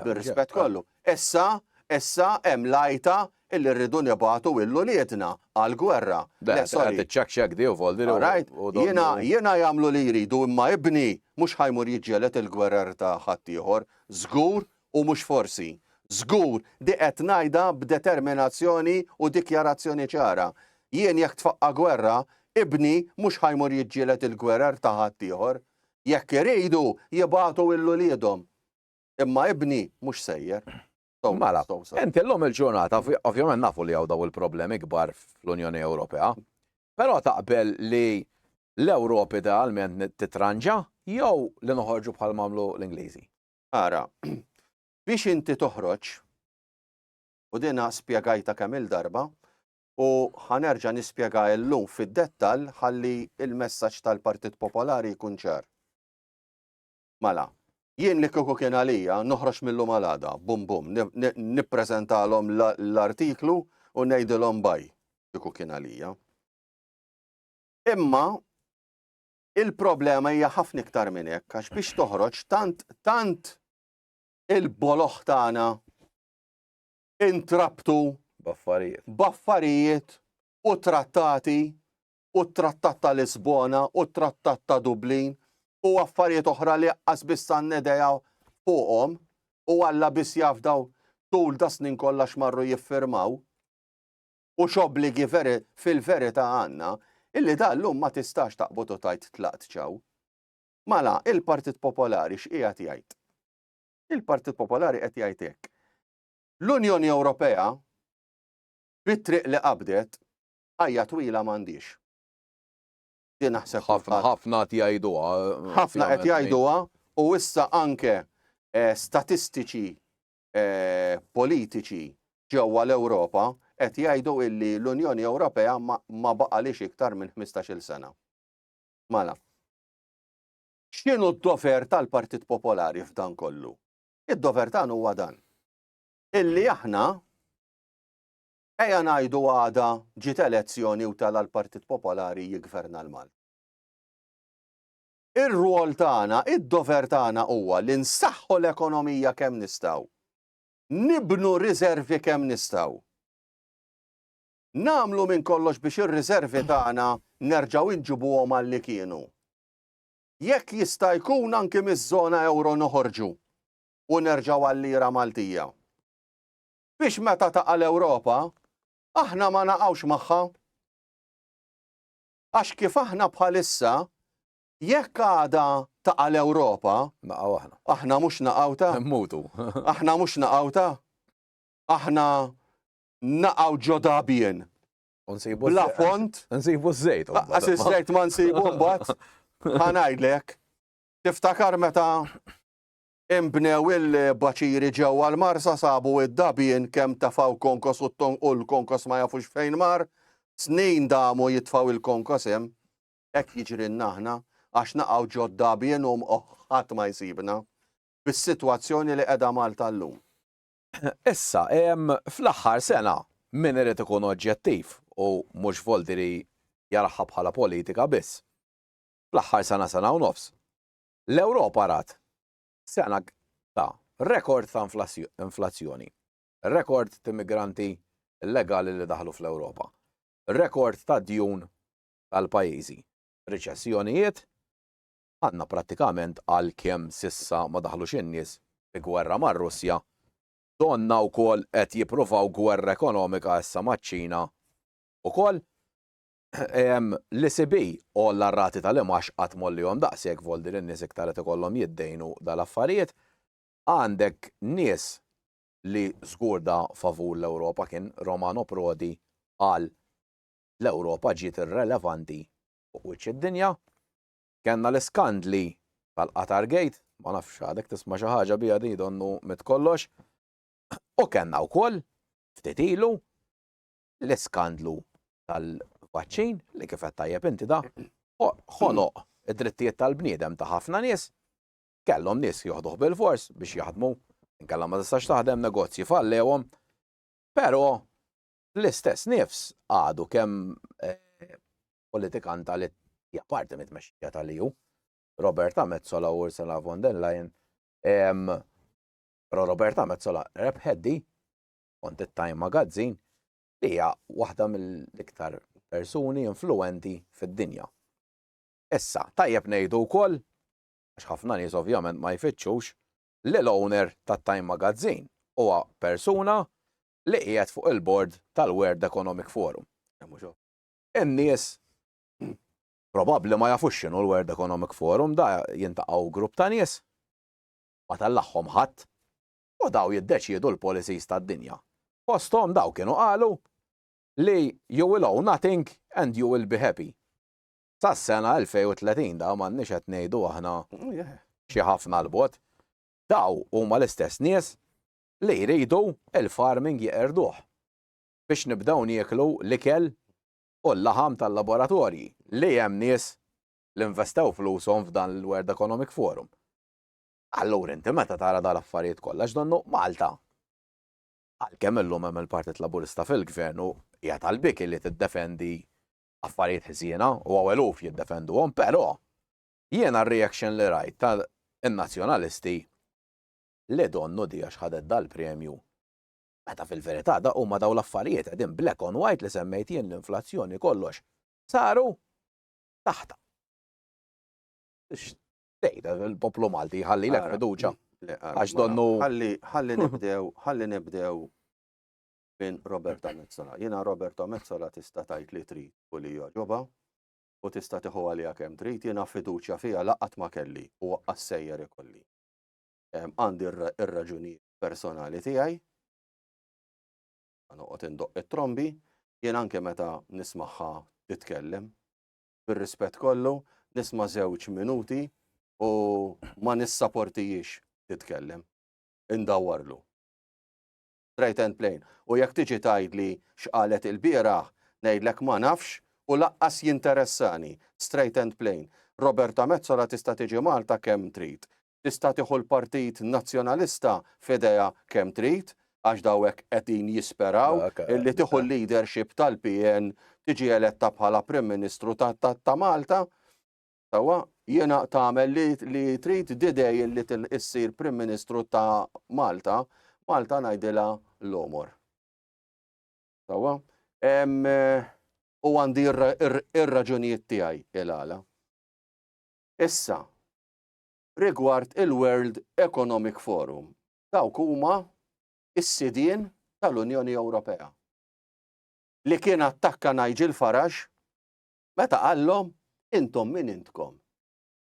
Bir-rispett kollu. Issa, issa hemm l-għajta illi rridu nibagħtu lil uliedna għall-gwerra. Le, sorry. Tiċċakxek di u voldi li Alright, jiena jiena jagħmlu li jridu imma ibni mhux ħajmur jiġġieled il-gwerer ta' ħaddieħor, żgur u mhux forsi. Żgur, di qed ngħidha b'determinazzjoni u dikjarazzjoni ċara. Jien jekk tfaqqa' gwerra, ibni mhux ħajmur jiġġieled il-gwerer ta' ħaddieħor. Jekk iridu, jibagħtu lil uliedhom. Imma ibni mhux sejjer. Mala, inti l-lum il-ġurnata, ovvjament nafu li għaw daw il-problemi kbar fl-Unjoni Ewropea, pero taqbel li l-Ewrop idealment titranġa jew li noħorġu bħal mamlu l-Ingliżi. Ara, biex inti toħroġ, u dina spiegajta kemm il-darba, u ħanerġa nispjega l-lum fid-dettal ħalli il-messaġġ tal-Partit Popolari jkun ċar. Mela, jien li kieku kien għalija, noħroġ mil-lum għal għada, bum bum, nippreżentalhom l-artiklu u ngħidilhom bye, kieku kien għalija. Imma il-problema hija ħafna iktar minn hekk għax biex toħroġ tant tant il-boloħ tagħna intrabtu baffarijiet baffarijiet u trattati u t-Trattat ta' Lisbona u t-Trattat ta' Dublin u affarijiet oħra li aqqas biss għandna idea fuqhom u Alla biss jaf daw tul da snin kollha x'marru jiffirmaw u x'obbligi veri fil-verità għandna illi da llum ma tistax taqbad u tgħid tlaqt ċaw. Mala, il-Partit Popolari x'qiegħed jgħid? Il-Partit Popolari qed jgħid hekk. L-Unjoni Ewropea bit-triq li qabdet Ħajja twila m'għandhiex. Din naħseb ħafna ħafna qed jgħiduha. Ħafna qed jgħiduha u issa anke eh, statistiċi eh, politiċi ġewwa l-Ewropa qed jgħidu illi l-Unjoni Ewropea ma baqalix iktar minn 15-il sena. Mala. X'inhu d-dover tal-Partit Popolari f'dan kollu? Id-dover tagħna huwa dan. Illi aħna Ejja ngħidu għada ġiet elezzjoni u tela' l-Partit Popolari jiggverna l-Malti. Ir-rwol tagħna, id-dover tagħna huwa li nsaħħu l-ekonomija kemm nistgħu, nibnu riżervi kemm nistgħu, nagħmlu minn kollox biex ir-riżervi tagħna nerġgħu inġibuhom għalli kienu. Jekk jista' jkun anki miż-żona ewro noħorġu u nerġgħu għal lira Maltija. biex meta taqa' l-Ewropa, aħna ma naqgħux magħha. Għax kif aħna bħalissa, jekk għada taqa' l-Ewropa, Naqgħu aħna. aħna mhux naqgħuta, Immutu. aħna mhux naqgħuta, aħna naqgħu ġo dabien, U nsibu bla ż-żejt. fond, Nsibu ż-żejt. imbagħad. Għas iż-żejt ma nsibu mbagħad, ħanajdlek. Tiftakar meta Inbnew il-baċiri ġewwa l-Marsa sabu d-dabien kemm tefgħu konkos u u l-konkos ma jafux fejn mar. Snin damu jitfgħu l-konkos hemm. Hekk jiġrilna aħna għax naqgħu ġod-dabien u ohh ħadd ma jsibna. Bis-sitwazzjoni li qegħda Malta llum. Issa, fl-aħħar sena, min irid ikun oġġettiv, u mhux Volteri jaraha bħala politika biss. Fl-aħħar sena sena u nofs. L-Ewropa rat sena ta' rekord ta' inflazzjoni, rekord t'migranti illegali li daħlu fl-Ewropa, rekord ta' djun tal-pajjiżi, riċessjonijiet, għandna prattikament għalkemm s'issa ma daħlux in-nies fi gwerra mar-Russja, donnha wkoll qed jippruvaw gwerra ekonomika issa maċ-Ċina wkoll, L-ECB għolla r-rati tal-imgħax qatt m'għollihom daqshekk vol din in-nies iktar qed ikollhom jiddejnu dal-affarijiet. Għandek nies li żgur da favur l-Ewropa kien Romano Prodi qal l-Ewropa ġiet irrelevanti fuq wiċċ id-dinja. Kellna l-iskandli tal-Qatar Gate, ma nafx għadek tisma' xi ħaġa biha din donnu mitt kollox. U kellna wkoll ftit ilu l-iskandlu tal-vaċċin li kif qed tajjeb inti da ħoloq id-drittijiet tal-bniedem ta' ħafna nies kellhom nies joħduh bil-fors biex jaħdmu inkella ma tistax taħdem negozji fallewhom. Però l-istess nifs għadu kemm eh, politikan tal hija parti mit-tmexxija tal-EU. Roberta Mezzola u Ursula von der Leyen. Però Roberta Mezzola rebħeddi skont it-Time Magazine, li hija waħda mill-iktar persuni influwenti fid-dinja. Issa, tajjeb ngħidu wkoll, għax ħafna nies ovvjament ma jfittxux, li l-owner tat-Time Magazine huwa persuna li qiegħed fuq il-bord tal-World Economic Forum. In-nies probabbli ma jafux x'inhu l-World Economic Forum, da jintaqgħu grupp ta' nies, ma tellagħhom ħadd, u dawn jiddeċiedu l-policies tad-dinja. Fosthom dawk kienu qalu li you will owe nothing and you will be happy. Sas-sena 2030 dawn m'għandniex qed ngħidu aħna xi ħafna 'l bogħod. Dawn huma l-istess nies li jridu l-farming jeqirduh biex nibdew nieklu l-ikel u l-laħam tal-laboratorji li hemm nies li investew flushom f'dan il-World Economic Forum. Allura inti meta tara dawn l-affarijiet kollha x'donnu Malta, għalkemm illum hemm il-Partit Laburista fil-Gvern u hija talbik li tiddefendi affarijiet ħżiena u hawn eluf jiddefenduhom, però jiena r-reaction li rajt ta' n-Nazzjonalisti li donnu di għax ħadet dal-premju, meta fil-verità da huma dawn l-affarijiet qegħdin black on white li semmejt jien l-inflazzjoni kollox saru taħtha. Tejda, il-poplu Malti jħalli l fiduċa. Għax donnu. Ħalli nibdew, ħalli nibdew minn Roberta Mezzola. Jena Roberta Mezzola tista' tajt li tri u li joġoba u tista' tiħu għalija kemm trid, jiena fiduċja fija laqat ma kelli u għassejjer ikolli. Għandi r-raġuni personali tiegħi, noqgħod indoq it-trombi, jien anke meta nismaħħa titkellem, bir-rispett kollu, nisma' żewġ minuti u ma nissaportihiex titkellem. Indawwarlu. Straight and plain. U jekk tiġi tgħidli x'qalet ilbieraħ, ngħidlek ma nafx u lanqas jinteressani. Straight and plain. Roberta Metsola tista' tiġi Malta kemm trid. tista' tieħu l-Partit Nazzjonalista f'idejha kemm trid, għax daw hekk qegħdin jisperaw li tieħu l-leadership tal-PN tiġi eletta bħala Prim Ministru ta' Malta. Sewwa, jiena tagħmel li trid didej li issir Prim Ministru ta' Malta, Malta ngħidilha l-omor. Sewwa? u għandi ir-raġunijiet tiegħi il-għala. Issa, rigward il-World Economic Forum. Dawk huma s-sidien tal-Unjoni Ewropea li kien attakka Nigel Farage meta qallhom intom min intkom.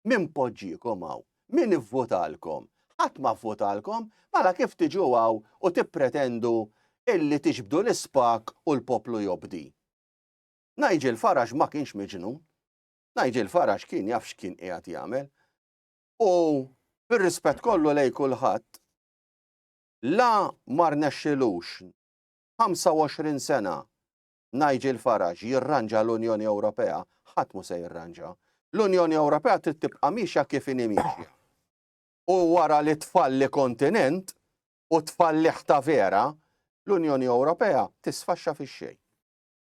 Min poġġikom hawn? Min ivvutalkom? Ħadd ma vvutalkom, mela kif tiġu hawn u tippretendu illi tiġbdu l-ispak u l-poplu jobdi? Nigel Farage ma kienx miġnun. Nigel Farage kien jaf x'kien qiegħed jagħmel. U bir-rispett kollu lej kulħadd la mar nexxilux 25 sena Nigel Farage jirranġa l-Unjoni Ewropea, ħadd mu se jirranġa. L-Unjoni Ewropea trid tibqa' mixja kif inhi mixja. U wara li tfalli kontinent u tfalliħ ta' vera, l-Unjoni Ewropea tisfaxxa fix-xejn.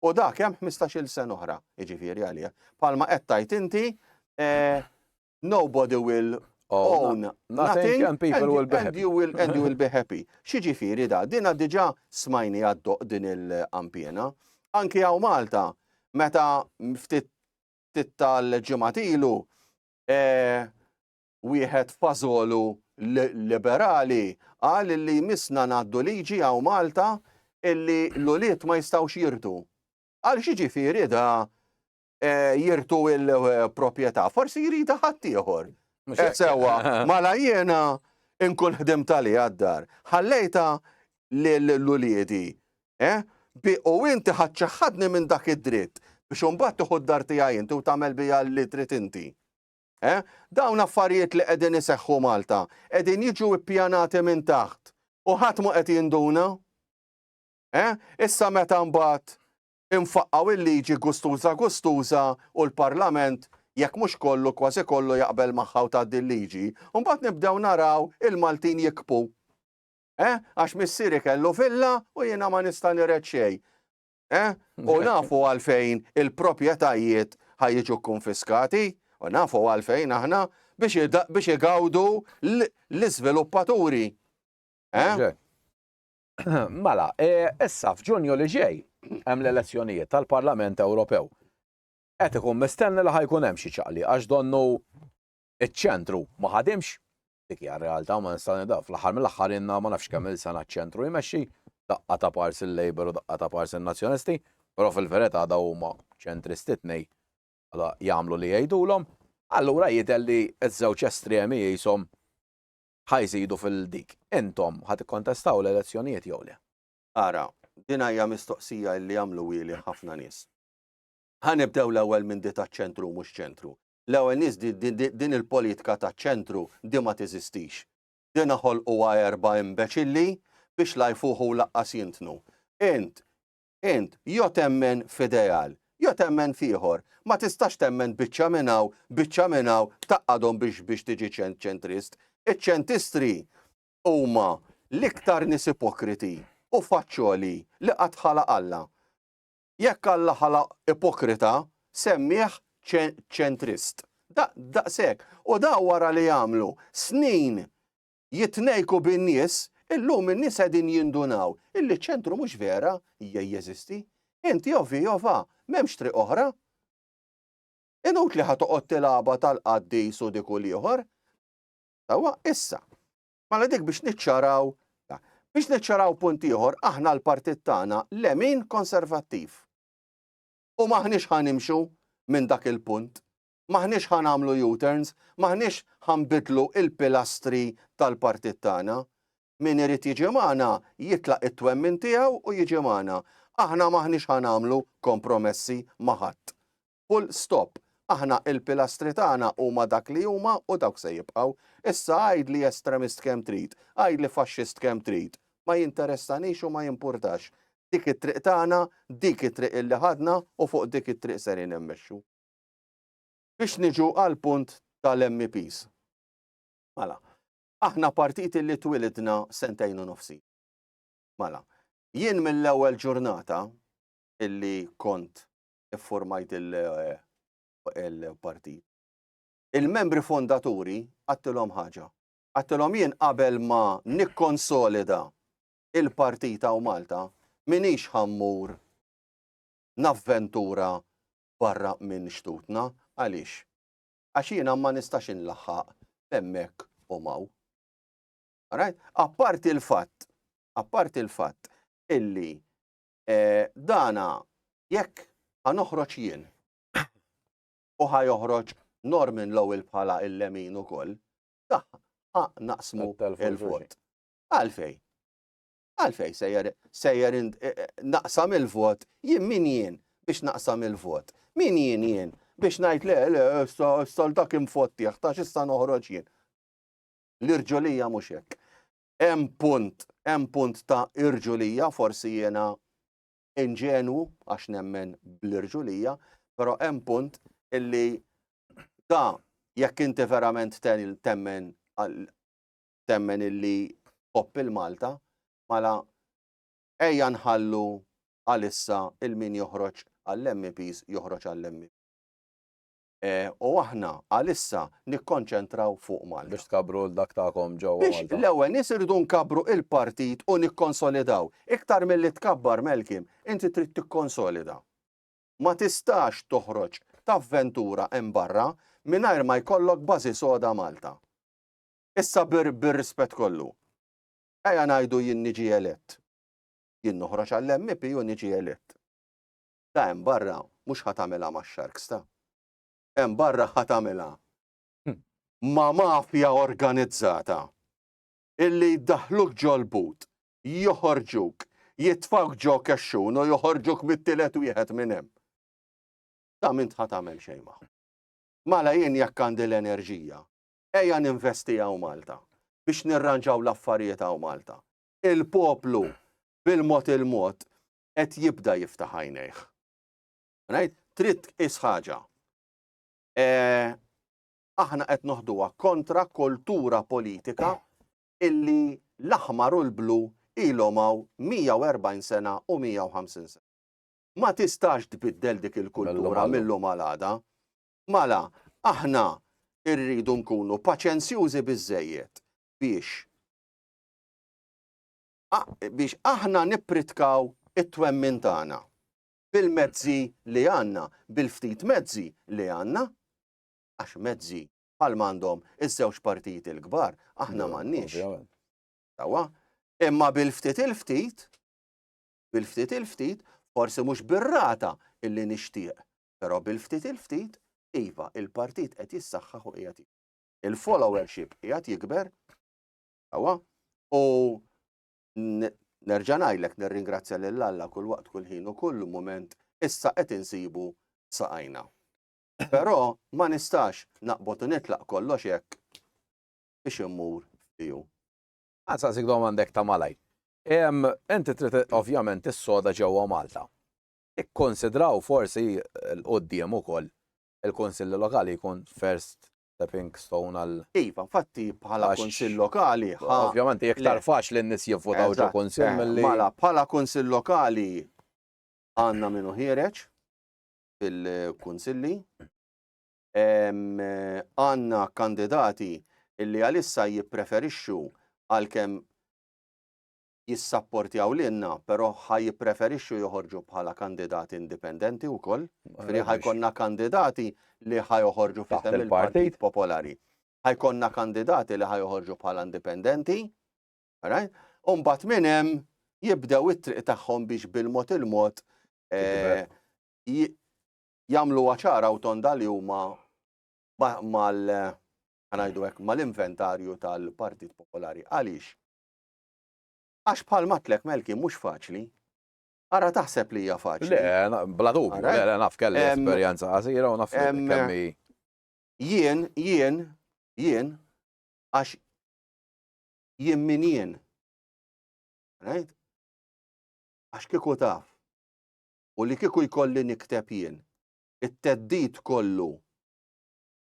u dak hemm ħmistax-il sena oħra, jiġifieri għalih. Palma qed tgħid inti, eh, nobody will own nothing and people will be happy. And you will be happy. Xiġifieri da, dina diġà smajni għaddoq din il-kampjena. Anki għaw Malta, meta ftit tal-ġimatilu, eh, Wieħed fażolu liberali qal illi jmissna ngħaddu liġi hawn Malta illi l-ulied ma jistgħux jirtu. Għal x'jiġifieri da jirtu l-proprjetà? Forsi jridha ħaddieħor. Qed sewwa, mala jiena nkun ħdim tali għad-dar. Ħallejta l-uliedi. Eh? Bi u inti ħadċaħħadni minn dak id-dritt biex imbagħad tieħu d-dar tiegħi inti u tagħmel biha li trid inti. Eh? Dawn affarijiet li qegħdin iseħħu Malta, qegħdin jiġu ippjanati minn taħt u ħadd mhu qed jinduna? Eh? Issa meta mbagħad infaqqgħu il-liġi gustuża gustuża u l-Parlament jekk mhux kollu kważi kollu jaqbel magħha u tgħaddi l-liġi, u mbagħad nibdew naraw il-Maltin jikbu. Eh? Għax missieri kellu villa u jiena ma nista' nired xejn. Eh? U nafu għalfejn il-propietajiet ħajġu konfiskati, u nafu għalfejn aħna biex igawdu l-izviluppaturi. Eh? Mela, eh, issa f'ġunju li ġej hemm l-elezzjonijiet tal-Parlament Ewropew. Qed ikun mistenni li ħajkun hemm xi ċaqli għax donnu iċ-ċentru ma ħadimx Dik hija r-realtà u ma nistgħu nidgħu. Fl-aħħar mill-aħħar inna ma nafx kemm il-sena ċ-ċentru jmexxi, daqqa ta' pars il-Labour u daqqa ta' pars in-Nazzjonisti, però fil-verità daw huma ċentristi t-tnej għala jagħmlu li jgħidulhom, allura jidher li ż-żewġ estremi qishom ħa jżidu fil-dik. Intom ħa tikkontestaw l-elezzjonijiet jew le? Ara, din hija mistoqsija li għamluhieli ħafna nies. Ħa nibdew l-ewwel minn di taċ-ċentru u mhux ċentru. L-ewwel nies din il-politka taċ-ċentru di ma teżistix. Dina ħolquha erba' imbeċilli biex la jfuħu u laqqas jintnu. Int, int, jo temmen f'ideal, jo temmen f'ieħor. Ma tistax temmen biċċa minn hawn, biċċa minn hawn, tgħaqqadhom biex biex tiġi ċentrist. Iċ-ċentistri huma l-iktar nies ipokriti u faċċoli li qatt ħalaq Alla. Jekk Alla ħalaq ipokrita, semmieh ċentrist. Daqshekk. U dawn wara li għamlu snin jitnejku bin-nies, illum in-nies qegħdin jindunaw illi ċ-ċentru mhux vera jeżisti. Int jew fi jew fa, m'hemmx triq oħra. Inutli ħa toqgħod tilgħabha tal-qaddis u dik u l-ieħor. Sewwa, issa. Mela dik biex niċċaraw, biex niċċaraw punt ieħor, aħna l-partit tagħna lemin konservattiv. U m'aħniex ħa nimxu minn dak il-punt. M'aħniex ħa nagħmlu U-turns, m'aħniex ħa nbidlu il-pilastri tal-partit tagħna. Min irid jiġi magħna jitlaq it-twemmin tiegħu u jiġi magħna. Aħna m'aħniex ħa nagħmlu kompromessi ma' ħadd. Full stop. Aħna il-pilastri tagħna huma dak li huma u dawk se jibqgħu. Issa għidli estremist kemm trid, għidli faxxist kemm trid. Ma jinteressanix u ma jimpurtax. Dik it-triq tagħna, dik it-triq illi ħadna u fuq dik it-triq serin immexxu. Biex niġu għall-punt tal-MEPs. Mela. Aħna partit illi twilidna sentejn u nofs ilu. Mela. Jien mill-ewwel ġurnata illi kont ffurmajt il-partit. Il-membri fondaturi għattilhom ħaġa. Għattilhom jien qabel ma nikkonsolida il-partita u Malta minix ħammur navventura barra minn xtutna għaliex. Għax jiena ma nistax inlaħħaq hemmhekk u maw. Apparti l-fatt, apparti l-fatt illi Dana jekk ħa noħroġ jien u ħa joħroġ Norman Lowell bħala il-lemin ukoll, ħa naqsmu il-vot. Għalfej? Għalfej sejjer sejjer e, e, naqsam il-vot, jien min jien biex naqsam il-vot. Min jien jien biex ngħid le le s-soldak imfottieħ ta' x'issa noħroġ jien. L-irġolija mhux hekk. Hemm punt, hemm punt ta' irġulija, forsi jiena inġenwu għax nemmen bl-irġulija, però hemm punt illi da jekk inti verament temmen temmen illi tħobb il-Malta, mela ejja nħallu għalissa il-min joħroġ għall-MEPs joħroġ għall-MEPs. u aħna għalissa nikkonċentraw fuq Malta. Biex tkabbru l-dak tagħkom ġewwa Malta. Biex l-ewwel nies irridu nkabbru il-partit u nikkonsolidaw. Iktar milli tkabbar Malcolm, inti trid tikkonsolida. Ma tistax toħroġ t'avventura hemm barra mingħajr ma jkollok bażi soda Malta. Issa bir-rispett kollu. Ejja ngħidu jien niġi elett. Jien noħroġ għall-MP u niġi elett. ta' hemm barra mhux ħa tagħmilha max-Sharks ta' hemm barra ħa tagħmilha ma' mafja organizzata illi jdaħħluk ġol-but, joħorġuk, jitfgħuk ġo kexxun u joħorġuk mit-tielet wieħed minn hemm. Ta' m'int ħa tagħmel xejn magħhom. Mala jien jekk għandi l-enerġija, ejja ninvesti hawn Malta biex nirranġaw l-affarijiet hawn Malta. Il-poplu bil-mod il-mod qed jibda jiftaħ għajnejh. Right? Trid tqis ħaġa. E, aħna qed noħduha kontra kultura politika illi l-aħmar u l-blu ilhom hawn 140 sena u 150 sena. Ma tistax tbiddel dik il-kultura mill-lum għal-għada. Mala, aħna irridu nkunu paċenzjużi biżejjed biex biex aħna nippritkaw it-twemmin tagħna bil-mezzi li għandna, bil-ftit mezzi li għandna, għax mezzi bħal m'għandhom iż-żewġ partijiet il-kbar, aħna m'għandniex. Tawa, imma bil-ftit il-ftit, bil-ftit il-ftit, forsi mhux bir-rata illi nixtieq, però bil-ftit il-ftit, iva, il-partit qed jissaħħaħ u qiegħed il-followership qiegħed jikber Sewwa? U nerġa' ngħidlek nirringrazzja lil Alla kull waqt, kull ħin u kull mument issa qed insibu saqajna. Però ma nistax naqbod u nitlaq kollox hekk biex immur f'tiegħu. Nsaqsik domanda hekk ta' malajr. Inti trid ovvjament tissoda ġewwa Malta. Ikkunsidraw forsi 'l quddiem ukoll il-Kunsilli Lokali jkun first stepping stone għal. Iva, infatti bħala kunsill lokali. Ovvjament iktar faċli n-nies jivvotaw ġo kunsill milli. Mela bħala kunsill lokali għandna minnu ħiereġ fil-kunsilli. Għandna kandidati illi għalissa jippreferixxu għalkemm jissapportjaw lilna, però ħa jippreferixxu joħorġu bħala kandidati indipendenti wkoll. Ġifieri ħa jkollna kandidati li ħa joħorġu f'isem il-Partit Popolari. Ħa jkollna kandidati li ħa joħorġu bħala indipendenti. U mbagħad minn hemm jibdew it-triq tagħhom biex bil-mod il-mod eh, jagħmlu ċara u tonda li huma mal eh, ħanajdu hekk mal-inventarju tal-Partit Popolari. Għaliex? Għax bħal m'għadtlek Melki mhux faċli. Ara taħseb li hija faċli. Le, bla dubju, le, le, naf kelli esperjenza qasira u naf kemmi. Jien, jien, jien, għax jien min jien. Right? Għax kiku taf. U li kiku jkolli nikteb jien. It-teddit kollu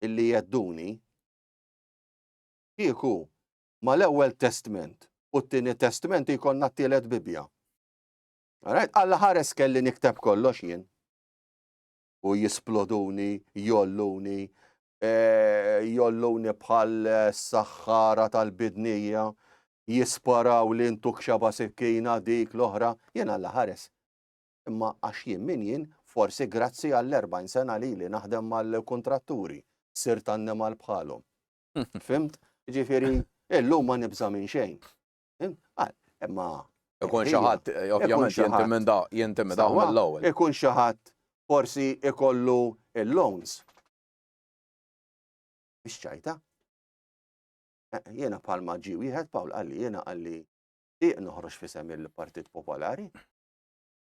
illi jedduni. Kiku mal-Ewwel Testment u t-Tieni Testment jkollna t-Tielet Bibbja. Alright, Alla ħares kelli nikteb kollox jien. U jisploduni, jolluni, eh, jolluni bħal eh, saħħara tal-bidnija, jisparaw li ntuk xaba sikkina dik l-oħra, jien Alla ħares. Imma għax jien min jien, forsi grazzi għall-40 sena li li naħdem mal-kontratturi, sirt annimal bħalhom. Fimt? Ġifiri, illum ma nibza minn xejn. Ah, imma. Ikun xaħat, ovvjament, jentimenda, jentimenda mill-ewwel. Ikun xaħat, forsi ikollu il-loans. Biex ċajta. Eh, jena palma ġi wieħed Pawl għalli, jena għalli, diq noħroġ fisem il-Partit Popolari.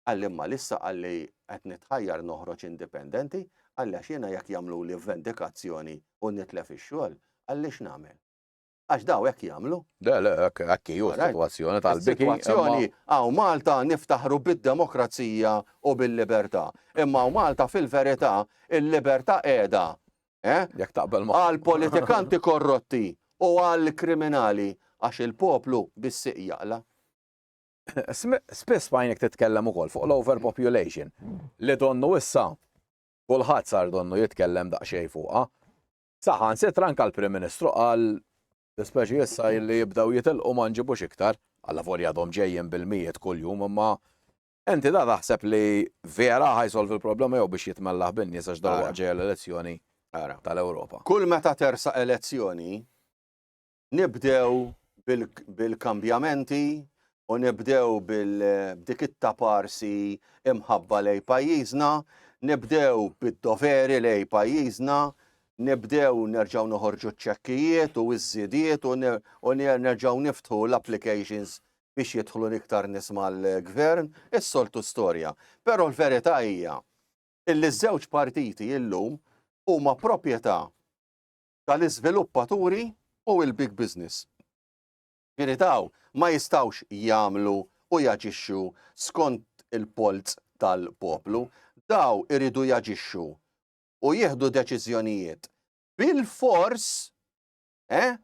Qalli imma lissa qalli qed nitħajjar noħroġ indipendenti, qalli għax jiena jekk jagħmluli vendikazzjoni u nitlef ix-xogħol, qalli x'nagħmel? Għax daw hekk jagħmlu. Le, le, hekk, hekk hi, hu s-sitwazzjoni tal-biki. Is-sitwazzjoni hawn Malta niftaħru bid-demokrazija u bil-libertà. Imma hawn Malta fil-verità l-libertà qiegħda, eh? Jekk taqbel ma. Għall-politikanti korrotti u għall-kriminali għax il-poplu bis-sieq jaqla'. Spiss fajnek titkellem ukoll fuq l-overpopulation li donnu issa kulħadd sar donnu jitkellem daqsxejn fuqha. Saħan sitra anka l-Prim Ministru qal speċi issa li jibdew jitilqu ma nġibux iktar, għalla volja dom ġejjin bil-mijiet kuljum imma Enti da taħseb li vera ħajsolv il-problema jew biex jitmellaħ bin-nies għax dawn ġej l-elezzjoni tal-Ewropa. Kull meta tersa elezzjoni, Nibdew bil-kambjamenti u nibdew bil-dik it-taparsi imħabba lejn pajjiżna, nibdew bid-doveri lejn pajjiżna, nibdew nerġgħu noħorġu ċ-ċekkijiet u ż-żidiet u nerġgħu niftħu l-applications biex jidħlu iktar nies mal-Gvern, is-soltu storja. Però l-verità hija illi ż-żewġ partiti illum huma proprjetà tal-iżviluppaturi u l-big business. Ġifieri dawn ma jistgħux jagħmlu u jaġixxu skont il-polz tal-poplu, dawn iridu jaġixxu u jieħdu deċiżjonijiet bilfors eh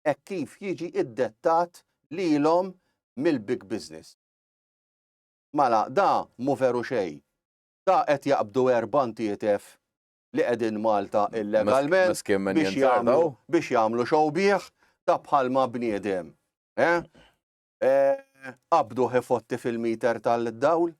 hekk kif jiġi ddettat lilhom mill-big business. Mela da mhu veru xejn. Da qed jaqbdu erba' ntietef li qegħdin Malta illegalment biex jagħmlu biex jagħmlu xogħbih ta' bħalma bniedem. Eh? Eh, qabdu ħifotti fil-meter tal-dawl?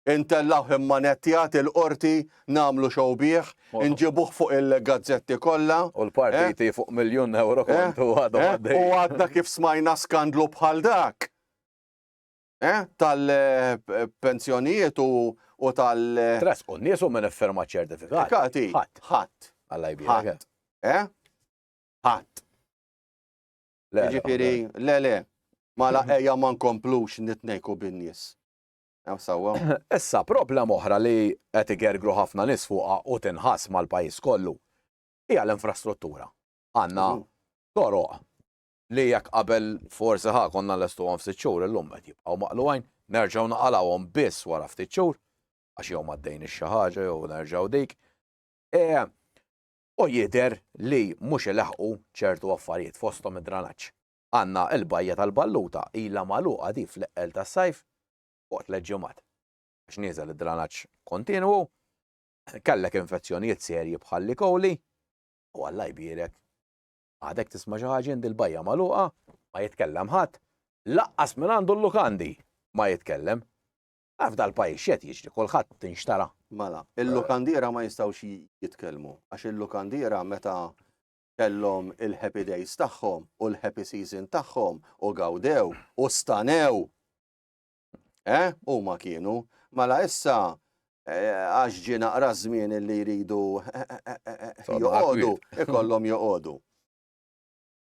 Intellaw imma nettijat il-qorti namlu xobieħ, nġibuħ fuq il-gazzetti kollha. U l-partiti eh? fuq miljon euro kontu għadu U għadna kif smajna skandlu bħal dak. tal-pensjonijiet u tal-. Tressqu n-nies u min iffirma ċ-ċertifikati? Ħadd. Ħadd. Alla jbierek. Ħadd. Ħadd. Jiġifieri, le le, mala ejja ma nkomplux nitnejku bin-nies. Issa, problema oħra li qed igergru ħafna nies fuqha u tinħass mal-pajjiż kollu hija l-infrastruttura. Għandna toroq li jekk qabel forsi ħa konna nlestuhom f'sitt xhur illum qed jibqgħu maqlugħin, nerġgħu naqalgħuhom biss wara ftit xhur għax jew m'għaddejniex xi ħaġa jew nerġgħu dik. E, u jidher li mhux ilaħqu ċertu affarijiet fosthom id-dranaġġ. Għandna l-bajja tal-Balluta ilha magħluqa di fl-eqqel tas-sajf fuq tliet ġimgħat. Għax nieżel id-dranaġġ kontinwu, kellek infezzjonijiet serji bħal li kowli, u Alla jbierek Għadek tisma' xi ħaġa għand il-bajja magħluqa, ma jitkellem ħadd, lanqas minn għandu l-lukandi ma jitkellem. Taf dal-pajjiż x'qed jiġri, kulħadd tinxtara. Mela, il-lukandiera ma jistgħux jitkellmu, għax il-lukandiera meta kellhom il-happy days tagħhom u l-happy season tagħhom u gawdew u stanew Eh, huma kienu, mela issa eh, għax ġie naqra żmien li jridu joqogħdu, ikollhom joqogħdu.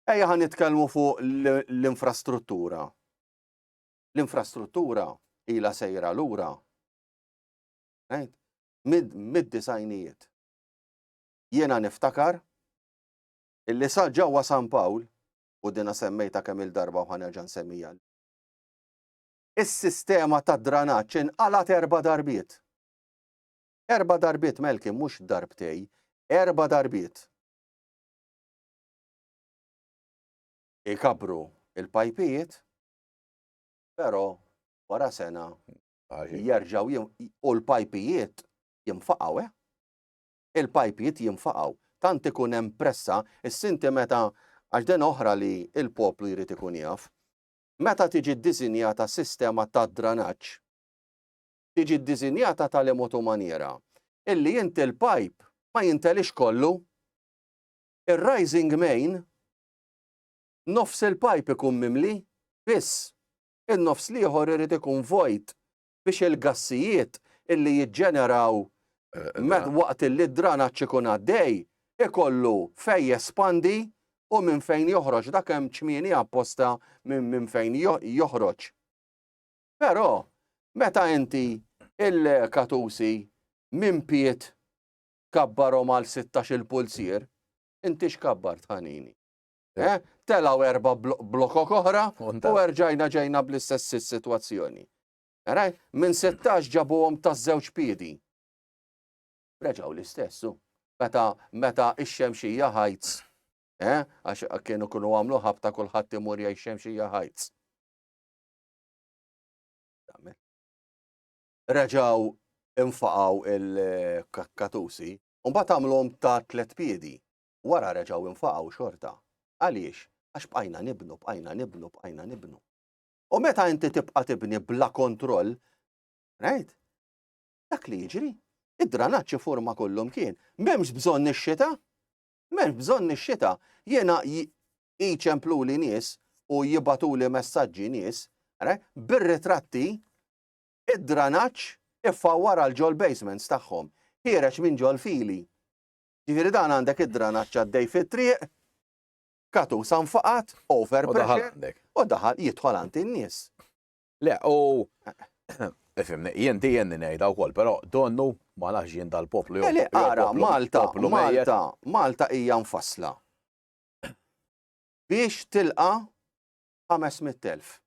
Ejja ħan nitkellmu fuq l-infrastruttura. L-infrastruttura ila sejra lura. Mid-disajnijiet. Jiena niftakar illi sa ġewwa San Pawl u dina semmejta kemm il-darba u ħanerġa' nsemmija Is-sistema tad-dranaġġ inqalgħet erba' darbiet. Erba' darbiet, Melki, mhux darbtej, erba' darbiet. Ikabbru l-pajpijiet, però wara sena jerġgħu u l-pajpijiet jinfaqgħu, eh? Il-pajpijiet jinfaqgħu. Tant ikun hemm pressa, issinti meta għax din oħra li l-poplu jrid ikun jaf. Meta tiġi ddisinjata sistema ta' dranaġġ, tiġi ddisinjata ta' liemtu maniera illi inti l-pajp ma jinteliex kollu. Ir-rising main, nofs il-pajp ikun mimli biss, in-nofs l-ieħor irid ikun vojt biex il-gassijiet illi jiġġeneraw waqt illi d-dranaġġ ikun għaddej ikollu fejn jespandi u minn fejn joħroġ dak hemm ċmieni apposta minn fejn joħroġ. Però meta inti il-katusi minn piet kabbarhom għal 16 il-pulzier, inti x'kabbart ħanini? Eh? Telaw erba blokok oħra u erġajna ġejna bl-istess situazzjoni. Raj, minn 16 ġabuhom ta' żewġ piedi. Reġaw l-istessu. Meta meta ix-xemxija ħajts. Eh? Għax kienu kunu għamlu ħabta kulħadd imur jgħix xemxija ħajts. Reġaw infaqaw il-kakkatusi, un bat għamlhom ta' tlet piedi. wara reġgħu infaqgħu xorta. Għaliex? Għax bqajna nibnu, bqajna nibnu, bqajna nibnu. U meta inti tibqa' tibni bla kontroll, right? Dak li jiġri, id-dranaġġ forma kollu mkien. M'hemmx bżonn ix-xita. M'hemmx bżonn ix-xita. Jiena jiċemplu li nies u jibatu li messaġġi nies, bir-ritratti id-dranaġġ iffawwar għal ġol basements tagħhom. Ħiereġ minn ġol fili. Ġifieri dan għandek id-dranaġġ għaddej fit-triq, katu san faqat, over pressure, u daħal jidħol għand in-nies. Le, u Ifimni, jien di jenni nejda u koll, pero donnu ma nafx jien dal-poplu. Eli, eh, għara, Malta, Malta, Malta hija nfasla. Biex tilqa 500.000.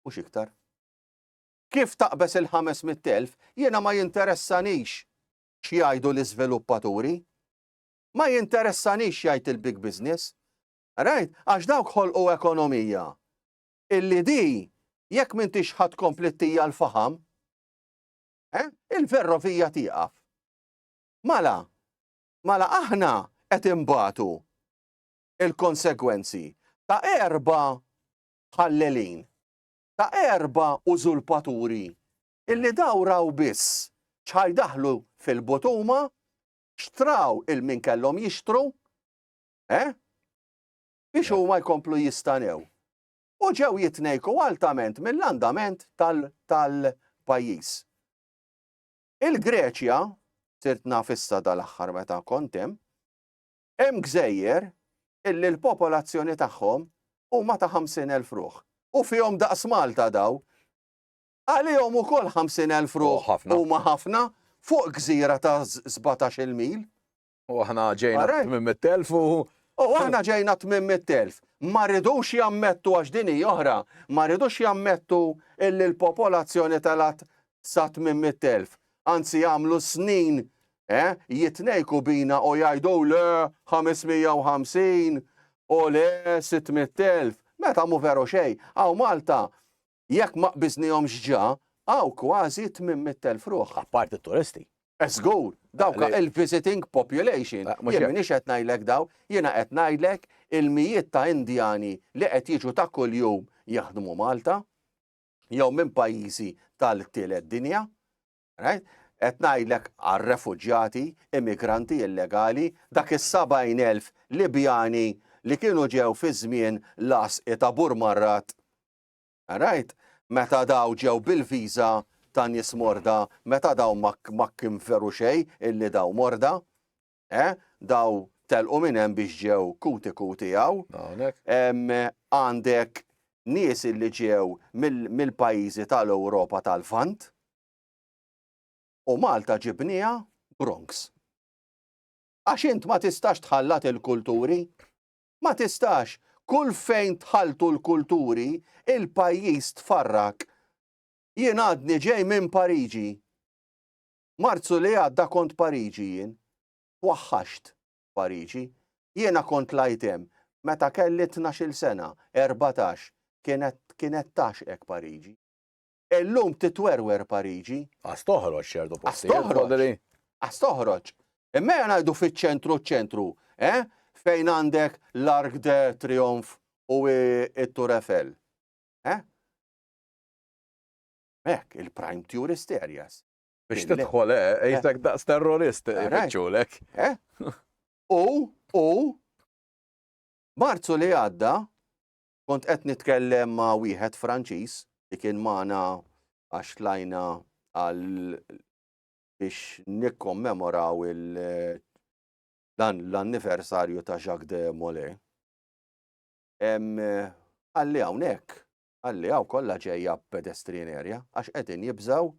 U xiktar. Kif taqbes il-500.000, jiena ma jinteressanix x'jgħidu l-iżviluppaturi. Ma jinteressanix jgħid il-big business. Rajt? Għax dawk ħolqu ekonomija illi di jekk m'intix ħa tkompli ttija l-faħam, eh, il-ferrovija tieqaf. Mala, mala aħna qed imbagħtu il-konsegwenzi ta' erba' ħallelin, ta' erba' użulpaturi illi daw raw biss x'ħa jdaħħlu fil-but huma, xtraw il-min kellhom jixtru, eh? biex huma jkomplu jistanew. U ġew jitnejku altament mill-andament tal-pajjiż. Il-Greċja, sirt naf issa dal-aħħar meta kont hemm, hemm gżejjer illi l-popolazzjoni tagħhom huma ta' 50,000 ruħ. U fihom daqs Malta daw. Għalihom ukoll 50,000 ruħ huma ħafna fuq gżira ta' sbatax-il mil. U aħna ġejna 800,000 u. U aħna ġejna 800,000. Ma rridux jammettu għax din hi oħra, ma rridux jammettu illi l-popolazzjoni telgħet sa 800,000. Anzi jagħmlu snin jitnejku bina u jgħidu le 550 u le 600,000. Meta mhu veru xejn, hawn Malta Jekk ma qbiżnihomx ġa, hawn kważi 800 elf ruħ. Apparti t-turisti. Żgur, dawk il-visiting population, jien m'iniex qed ngħidlek dawn, jiena qed ngħidlek il-mijiet ta' Indjani li qed jiġu ta' kuljum jaħdmu Malta, jew minn pajjiżi tal-tielet dinja, right? Qed ngħidlek għar-refuġjati, immigranti illegali, dak is-70 elf Libjani li kienu ġew fi żmien l-għasqi ta' Burmarrat All right? Meta dawn ġew bil-viża ta' nies morda, meta dawn ma kinferu xejn illi dawn morda, eh? Daw telqu minn hemm biex ġew kuti kuti hawn. Għandek nies illi ġew mill-pajjiżi tal-Ewropa tal-Lvant u Malta ġibniha Bronx. Għax int ma tistax tħallat il-kulturi Ma tistax, kull fejn tħalltu l-kulturi, il-pajjiż tfarrak. Jien għadni ġej minn Pariġi. Marzu li għadda kont Pariġi jien. Twaħħaxt Pariġi. Jiena kont lgħajt hemm meta kelli tnax-il sena, erbatax, kienet kienet tagħxqek Pariġi. Illum titwerwer Pariġi. Qas toħroġ ċertu postijiet. Qas toħroġ. Qas toħroġ. Imma ngħidu fiċ-ċentru ċ-ċentru, eh? Fejn għandek l-Arc de Triomphe u it-Tour Eiffel. Eh? Mek, il-prime tourist areas. Biex tidħol, eh, eh? jisek daqs terrorist, jibċulek. Eh? U, u, marzu li għadda, Kont qed nitkellem ma' wieħed Franċiż li kien magħna għax tlajna għal biex nikkommemoraw il dan l-anniversarju ta' Jacques de Molay. Għalli hawnhekk, għalli hawn kollha ġejja pedestrian area għax qegħdin jibżaw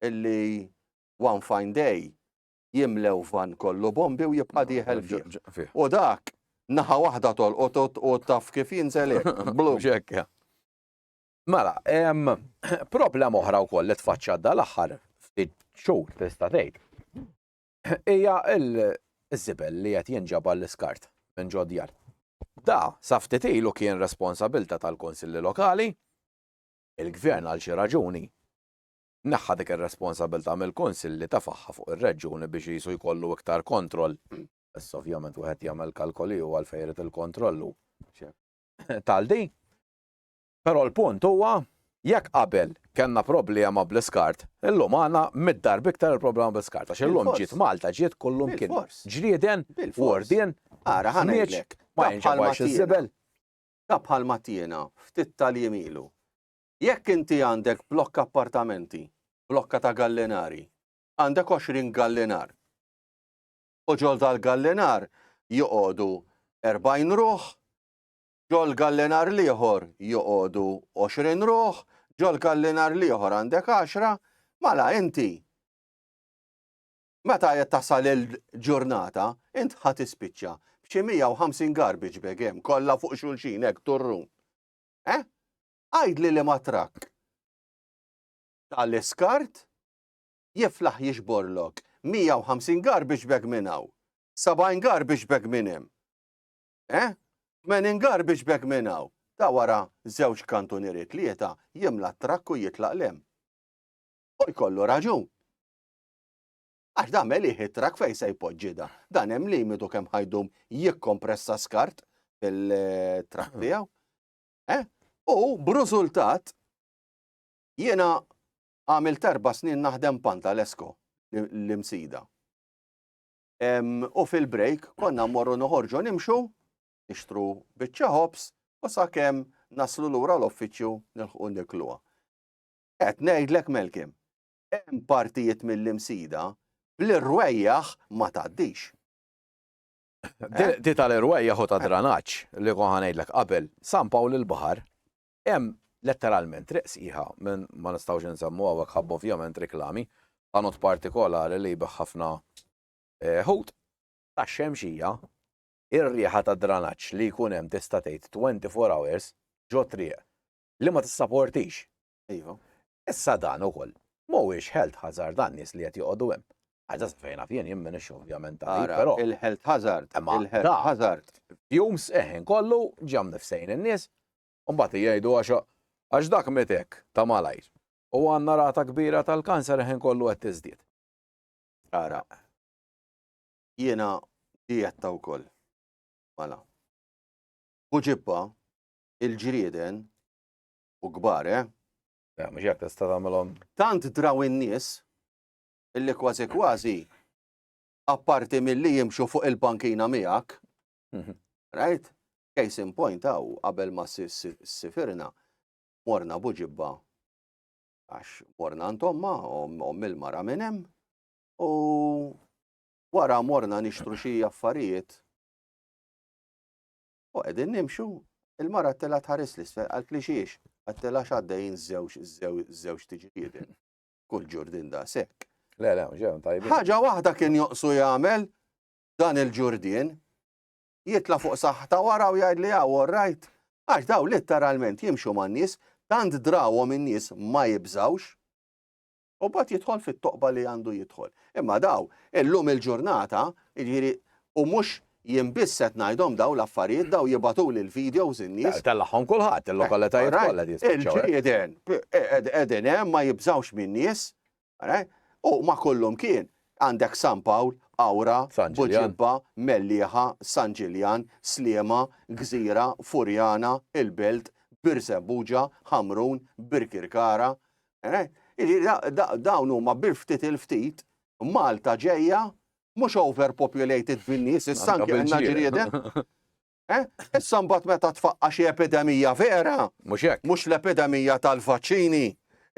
illi one fine day jimlew vann kollu bombi u jibqa' dieħel fih. U dak naħa waħda tolqot u taf kif jinżel blu. Mela, problema oħra wkoll li tfaċċa dal-aħħar ftit xhur tista' tgħid. Hija l-żibel li qed jinġabar l-iskart minn ġodjar. Da, sa ftit ilu kien responsabilta tal-konsilli lokali, il-gvern għal xi raġuni neħħa dik ir-responsabilità mill-Kunsill li tefagħha fuq ir-reġjuni biex qisu jkollu iktar kontroll. Issa ovvjament wieħed jagħmel kalkoli u għalfejn irid il-kontroll u tal di. Però l-punt huwa Jekk qabel kellna problema bl-iskart, illum għandna mid-darb iktar il-problema bl-iskart. Għax illum ġiet Malta, ġiet kullum kien. Ġrieden, wordien, ara ħanejlek. Ma jinġabax iż-żibel. Ta' bħal mattina, ftit tal-jiem ilu. Jekk inti għandek blokk appartamenti, blokka ta' gallinari, għandek 20 gallinar. U ġol dal-gallinar joqogħdu 40 ruħ, ġol gallinar l-ieħor joqogħdu 20 ruħ, ġol gallinar l-ieħor għandek 10, mala inti Meta qed tasal il-ġurnata, int ħa tispiċċa b'xi 150 garbage bag hemm kollha fuq xulxin hekk turrum. Eh? Għidli liema trakk ta' l-iskart jiflaħ jiġborlok 150 garbage bag minn hawn, 70 garbage bag minn hemm, eh? 80 garbage bag minn hawn, ta' wara żewġ kantunieri tlieta jimla t-trakk u jitlaq 'l hemm. U jkollu raġun. Għax dan melih it-trakk fejn se jpoġġi dan. Dan hemm limitu kemm ħajdum jikkompressa skart fil-trakk tiegħu. U b'rużultat jiena għamilt erba' snin naħdem pan tal-Esko, l-Imsida. U fil-break konna mmorru noħorġu nimxu, nixtru biċċa ħobż u sakemm naslu lura l-uffiċċju nilħqu nikluha. Qed ngħidlek Melkim, hemm partijiet mill-Imsida bl-irwejjaħ ma tgħaddix. Eh? Di tal-irwejja hu ta' eh. dranaġġ li konħa ngħidlek qabel San Pawl il-Baħar hemm letteralment triq sħiħa minn ma nistgħux insemmu hawnhekk ħabb ovvjament reklami ta' not partikolari li jbeħ ħafna eh, ħut ta' xemxija ir-riħa ta' dranaġġ li jkun hemm tista' tgħid 24 hours ġo triq li ma tissaportix. Iva. Issa dan ukoll mhuwiex health hazard għan-nies li qed joqogħdu hemm. Għada sa fejn naf jien, jien m'iniex ovvjament tabib, però. Ara, il-health hazard, il-health hazard. Fumes, eh, inkollu, ġie hawn nifsejn in-nies, u mbagħad jgħidu għax dak miet hekk, ta' malajr. U għandna rata kbira tal-kanser eh inkollu qed tiżdied. Ara, jiena dieta wkoll. Mela. Buġibba, il-ġrieden, u kbar, eh? Ja, mhux jekk tista' tagħmilhom. Tant draw in-nies illi kważi kważi apparti milli jimxu fuq il-pankina miegħek. Mhm. Right? Case in point hawn qabel ma sifirna morna buġibba għax morna ntomma u mill-mara minn hemm u wara morna nixtru xi affarijiet U qegħdin nimxu, il-mara t-tela tħares l-isfel għal klixiex, għat-tela xaddejn żewġ żewġ tiġrieden. Kull ġurdin da sekk. Le, le, ġew tajbi. Ħaġa waħda kien joqsu jagħmel dan il-ġurdien, jitla fuq saħħta wara u jgħid li għaw ah, rajt, għax daw litteralment jimxu man-nies, tant drawhom in-nies ma jibżawx. u mbagħad jidħol fit-toqba li għandu jidħol. Imma daw, illum il-ġurnata, jiġifieri u mhux jien biss qed ngħidhom daw l-affarijiet daw jibatuli l-videos in-nies. Tellagħhom kulħadd, eh, il-lokalitajiet kollha eh. Il-ġrieden qegħdin hemm ma jibżawx min-nies, u ma kollhom kien għandek San Pawl, Awra, Buġibba, Mellieħa, San Ġiljan, Sliema, Gżira, Furjana, Il-Belt, Birsembuġa, Ħamrun, Birkirkara, Eh? Dawn huma bil ftit il-ftit Malta ġejja mhux overpopulated bin-nies, issa anke għandna ġrieden. Eh? Issa mbagħad meta tfaqqa xi epidemija vera, mhux hekk. Mhux l-epidemija tal-vaċċini,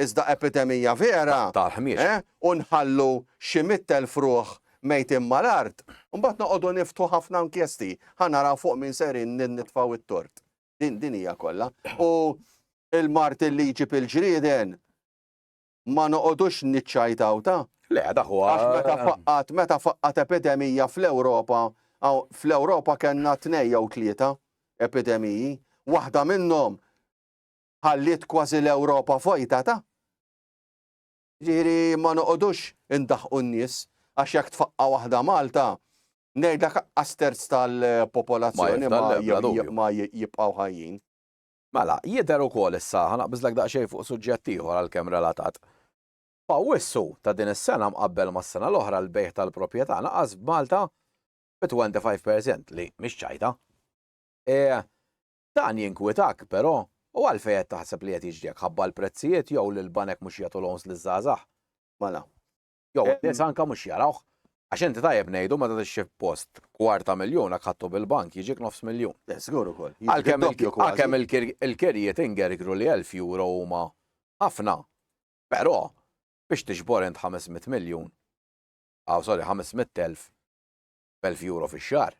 iżda epidemija vera. Tal-ħmiex. Eh? U nħallu xi mittel fruħ mejtin mal-art, mbagħad noqogħdu niftu ħafna inkjesti, ħanaraw fuq min serin nitfaw it-tort. Din din hija kollha. U il-mart li jġib il-ġrieden ma noqogħdux niċċajtaw ta' Le, dak huwa. Għax meta faqqat, meta faqqat epidemija fl-Ewropa, fl-Ewropa kellna tnej jew tlieta epidemiji, waħda minnhom ħalliet kważi l-Ewropa fojta ta' Ġiri ma noqodux indaħqu n-nies, għax jekk tfaqqa waħda Malta, Ngħidlek anqas terz tal-popolazzjoni ma jibqgħu ħajjin. Mela, jidher ukoll issa, ħa naqbiżlek daqsxejn fuq suġġett ieħor għalkemm relatat. F'Awwissu ta' din is-sena mqabbel mas-sena l-oħra l-bejgħ tal-proprjetà naqas b'Malta bi 25 per cent li mhix ċajta. E, dan jinkwitak, però, u għalfejn qed taħseb li qed jiġri hekk, ħabba l-prezzijiet jew li l-banek mhux jagħtu loans liż-żgħażagħ? Mela, Jew eh, nies anka mhux jarawh. Għax inti tajjeb ngħidu meta tixxi post kwarta miljun għak ħattu bil-bank jiġik nofs miljun. Eh, Sigur ukoll. Għalkemm il-kirjiet ingergru li 1000 euro huma ħafna. Però biex tixbor int 500 miljun, għaw ah, sorry 500,000 b'elf euro fix-xahar,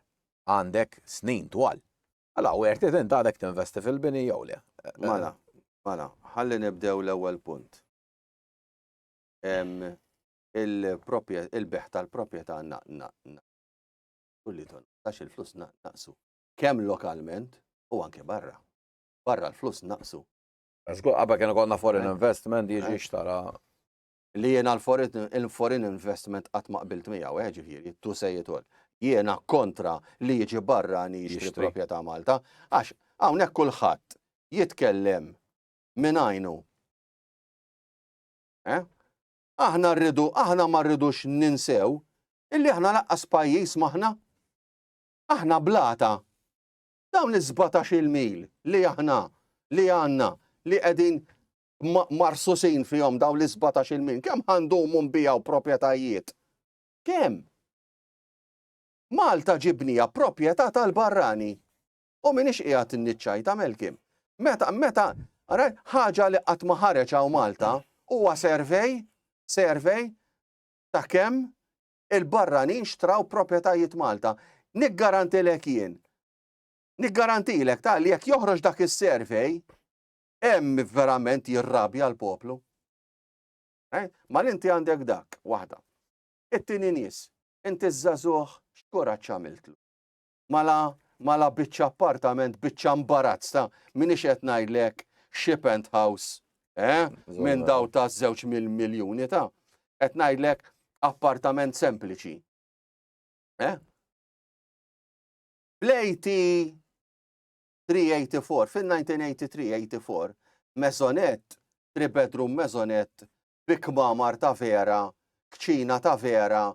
għandek snin twal. Għala, u għerti int għadek tinvesti fil-bini jew le. Mala, mala, ħalli nibdew l-ewwel punt. il-beħ tal-proprjetà kulli ton għax il-flus naqsu. Kemm lokalment u anke barra. Barra l-flus naqsu. Żgur qabel kienu konna foreign eh. investment jiġi eh. xtara. Li jiena l-foreign investment qatt ma qbilt miegħu, eh, ġifieri, tu se jitol. Jiena kontra li jiġi barra ni jixtri proprjetà Malta, għax hawnhekk kulħadd jitkellem minn għajnu Eh? Aħna rridu, aħna ma rridux ninsew illi aħna laqqas pajjiż maħna. Aħna blata. Dawn iż-17 mil li aħna li għandna li qegħdin marsusin fihom dawn l-17 mil, kemm ħandumu nbijaw proprjetajiet? Kemm? Malta ġibnija proprjetà tal-barrani. U m'iniex qiegħed inniċċajt tagħmel kim. Meta, meta, ara, ħaġa li qatt ma ħareġ hawn Malta huwa servej, servej ta' kemm il-barranin xtraw proprjetajiet Malta. Niggarantilek jien. Niggarantilek ta' li jekk joħroġ dak is-servej, hemm verament jirrabja l-poplu. Eh? Ma l-inti għandek dak, waħda. It-tieni nies, inti żagħżugħ x'kuraġġ għamiltlu. Mela, mela biċċa appartament, biċċa mbarazz ta' minix qed ngħidlek xi penthouse, eh, minn daw ta' żewġ miljuni ta' qed ngħidlek appartament sempliċi. Eh? L-AT 384, fin-1983-84, mezonet, 3 bedroom mezonet bi kmamar ta' vera, kċina ta' vera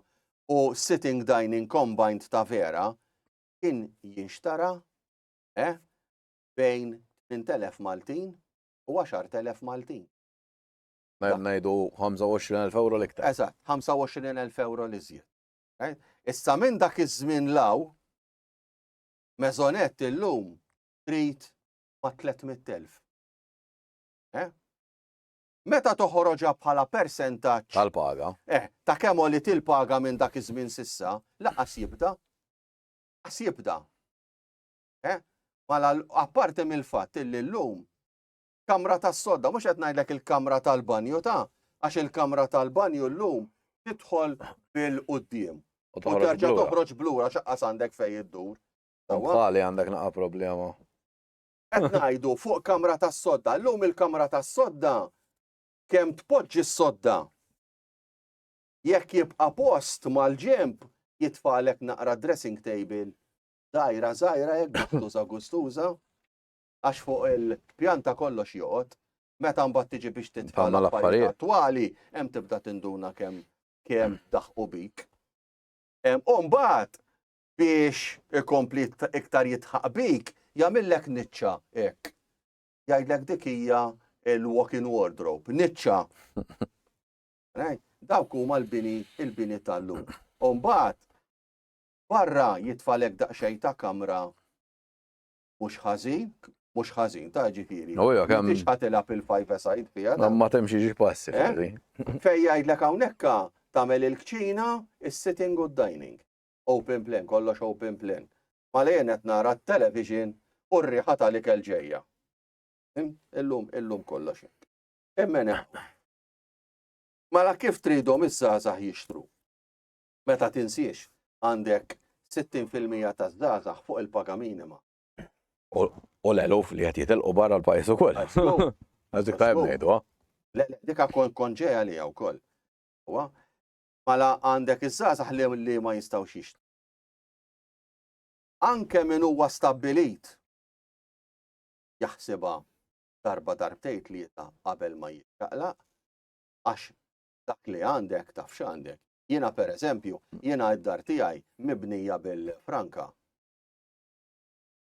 u sitting dining combined ta' vera kien jinxtara eh bejn 8,000 Maltin u 10,000 Maltin. Mela ngħidu 25,000 ewro l-iktar. Eżatt, 25,000 ewro l-iżjed. Issa minn dak iż-żmien law, mezonet illum trid ma' 300,000. Meta toħroġha bħala persentaġġ. Tal-paga. Eh, ta' kemm għoliet il-paga minn dak iż-żmien s'issa, lanqas jibda. Lanqas jibda. Eh? Mala apparti mill-fatt illi llum kamra tas-sodda, mhux qed ngħidlek il-kamra tal-banju ta' għax il-kamra tal-banju llum tidħol bil-qudiem. U terġa' toħroġ blura x'aqqas għandek fejn iddur. Bħali għandek naqa' problema. Qed ngħidu fuq kamra tas-sodda. Llum il-kamra tas-sodda kemm tpoġġi s-sodda. Jekk jibqa' post mal-ġenb jitfagħlek naqra dressing table dgħajra żgħira hekk guttuża gustuża għax fuq il-pjanta kollox joqgħod. Meta mbagħad tiġi biex titfa' l-affarijiet attwali hemm tibda tinduna kemm kemm daħqu bik. U mbagħad biex ikompli iktar jitħaq bik, jagħmillek niċċa hekk. Jgħidlek dik hija l-walk-in wardrobe, niċċa. Dawk huma l-bini, il-bini tal-lum. Umbagħad barra jitfalek daqsxejn ta' kamra mhux ħażin, mhux ħażin ta' ġifieri. Oh, Mhux ħatilha fil-five side fiha. Ma temxi xi passi. Eh? Fejn jgħidlek hawnhekk tagħmel il-kċina, is-sitting u d-dining. Open plan, kollox open plan. Malejn qed nara t-television u r-riħa tal-ikel ġejja. Illum, illum kollox hekk. Immen Mela kif tridhom iż-żgħażagħ jixtru? Meta tinsiex għandek 60% taż-żgħażagħ fuq il-paga minima. U l-eluf li qed jitilqu barra l-pajjiż ukoll. Għażdik tajb ngħidu, ha? Le, dik konġeja li wkoll. Huwa Mela għandek iż-żgħażagħ li li ma jistgħux jixtru. Anke min huwa stabbilit jaħsibha darba darbtejn tlieta qabel ma jiċċaqlaq għax dak li għandek taf x'għandek. Jiena pereżempju, jiena d-dar tiegħi mibnija bil-franka.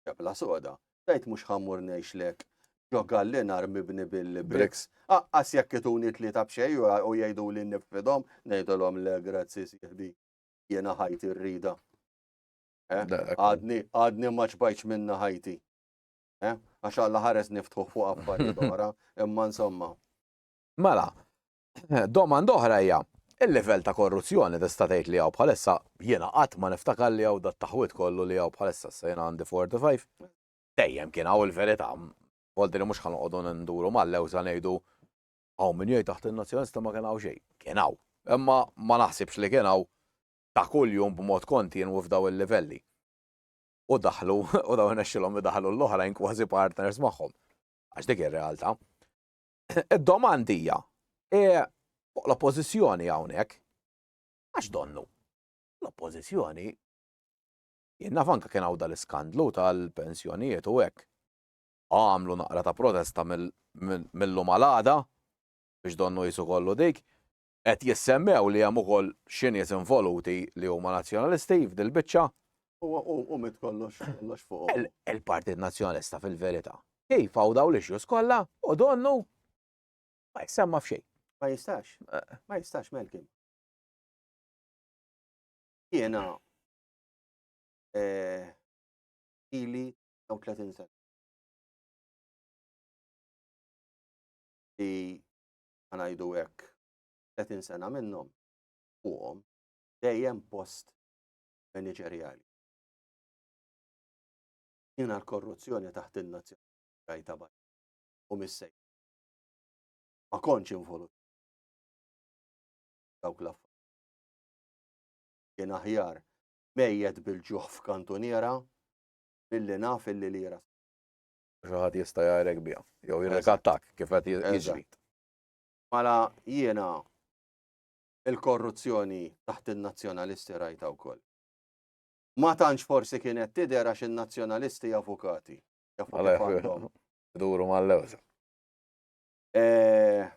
Xebla soda, tgħid mhux ħa mmur ngħixlek ġo gallinar mibni bil-briks. Aqqas jekk ituni tlieta b'xejn u jgħiduli nifqidhom, ngħidilhom le grazzi sieħbi, jiena ħajti rrida. Għadni, għadni ma ċbajtx minna ħajti. Għax Alla ħares niftħu fuq affarijiet oħra, imma insomma. Mela, Domanda oħra hija, il-livell ta' korruzzjoni tista' tgħid li hawn bħalissa, jiena qatt ma niftakar li hawn dat-taħwid kollu li hawn bħalissa, issa jiena għandi 45, dejjem kien hawn il-verità, volti li mhux ħa noqogħdu nduru mal-lewża ngħidu hawn min jgħid taħt in-Nazzjonalisti ma kien hawn xejn, kien hawn, imma ma naħsibx li kien hawn ta' kuljum b'mod kontinwu f'dawn il-livelli. U daħlu, u dawn irnexxilhom idaħħlu l-oħrajn kważi partners magħhom. Għax dik ir-realtà. Id-domand hija, e fuq l-Oppożizzjoni hawnhekk, għax donnu? L-Oppożizzjoni, jien naf anke kien hawn dal-iskandlu tal-pensjonijiet u hekk, għamlu naqra ta' protesta mill-lum għal għada biex donnu qisu kollu dik, Qed jissemmew li hemm ukoll xi nies involuti li huma Nazzjonalisti f'dil-biċċa. U mit kollox kollox fuqhom. Il-Partit Nazzjonalista fil-verità. Kif hawn dawn l-issues kollha u donnu ma jissemma f'xejn. Ma jistax. Ma jistax Malcolm. Jiena eh, ili jew 30 sena. Li ħanajdu hekk, 30 sena minnhom fuqhom dejjem post maniġerjali. Jiena l-korruzzjoni taħt in-nazzjonali rajta baj u missej. Ma kontx involut dawk l Kien aħjar mejjet bil-ġuħ f'kantuniera billi naf illi lira. Xaħat jista' jgħajrek biha, jew jirrikattak kif qed jiġri. Mala jiena il-korruzzjoni taħt in-nazzjonalisti rajta wkoll. Ma tantx forsi kienet tidher għax in-nazzjonalisti avukati. Duru mal-lewża. Eh,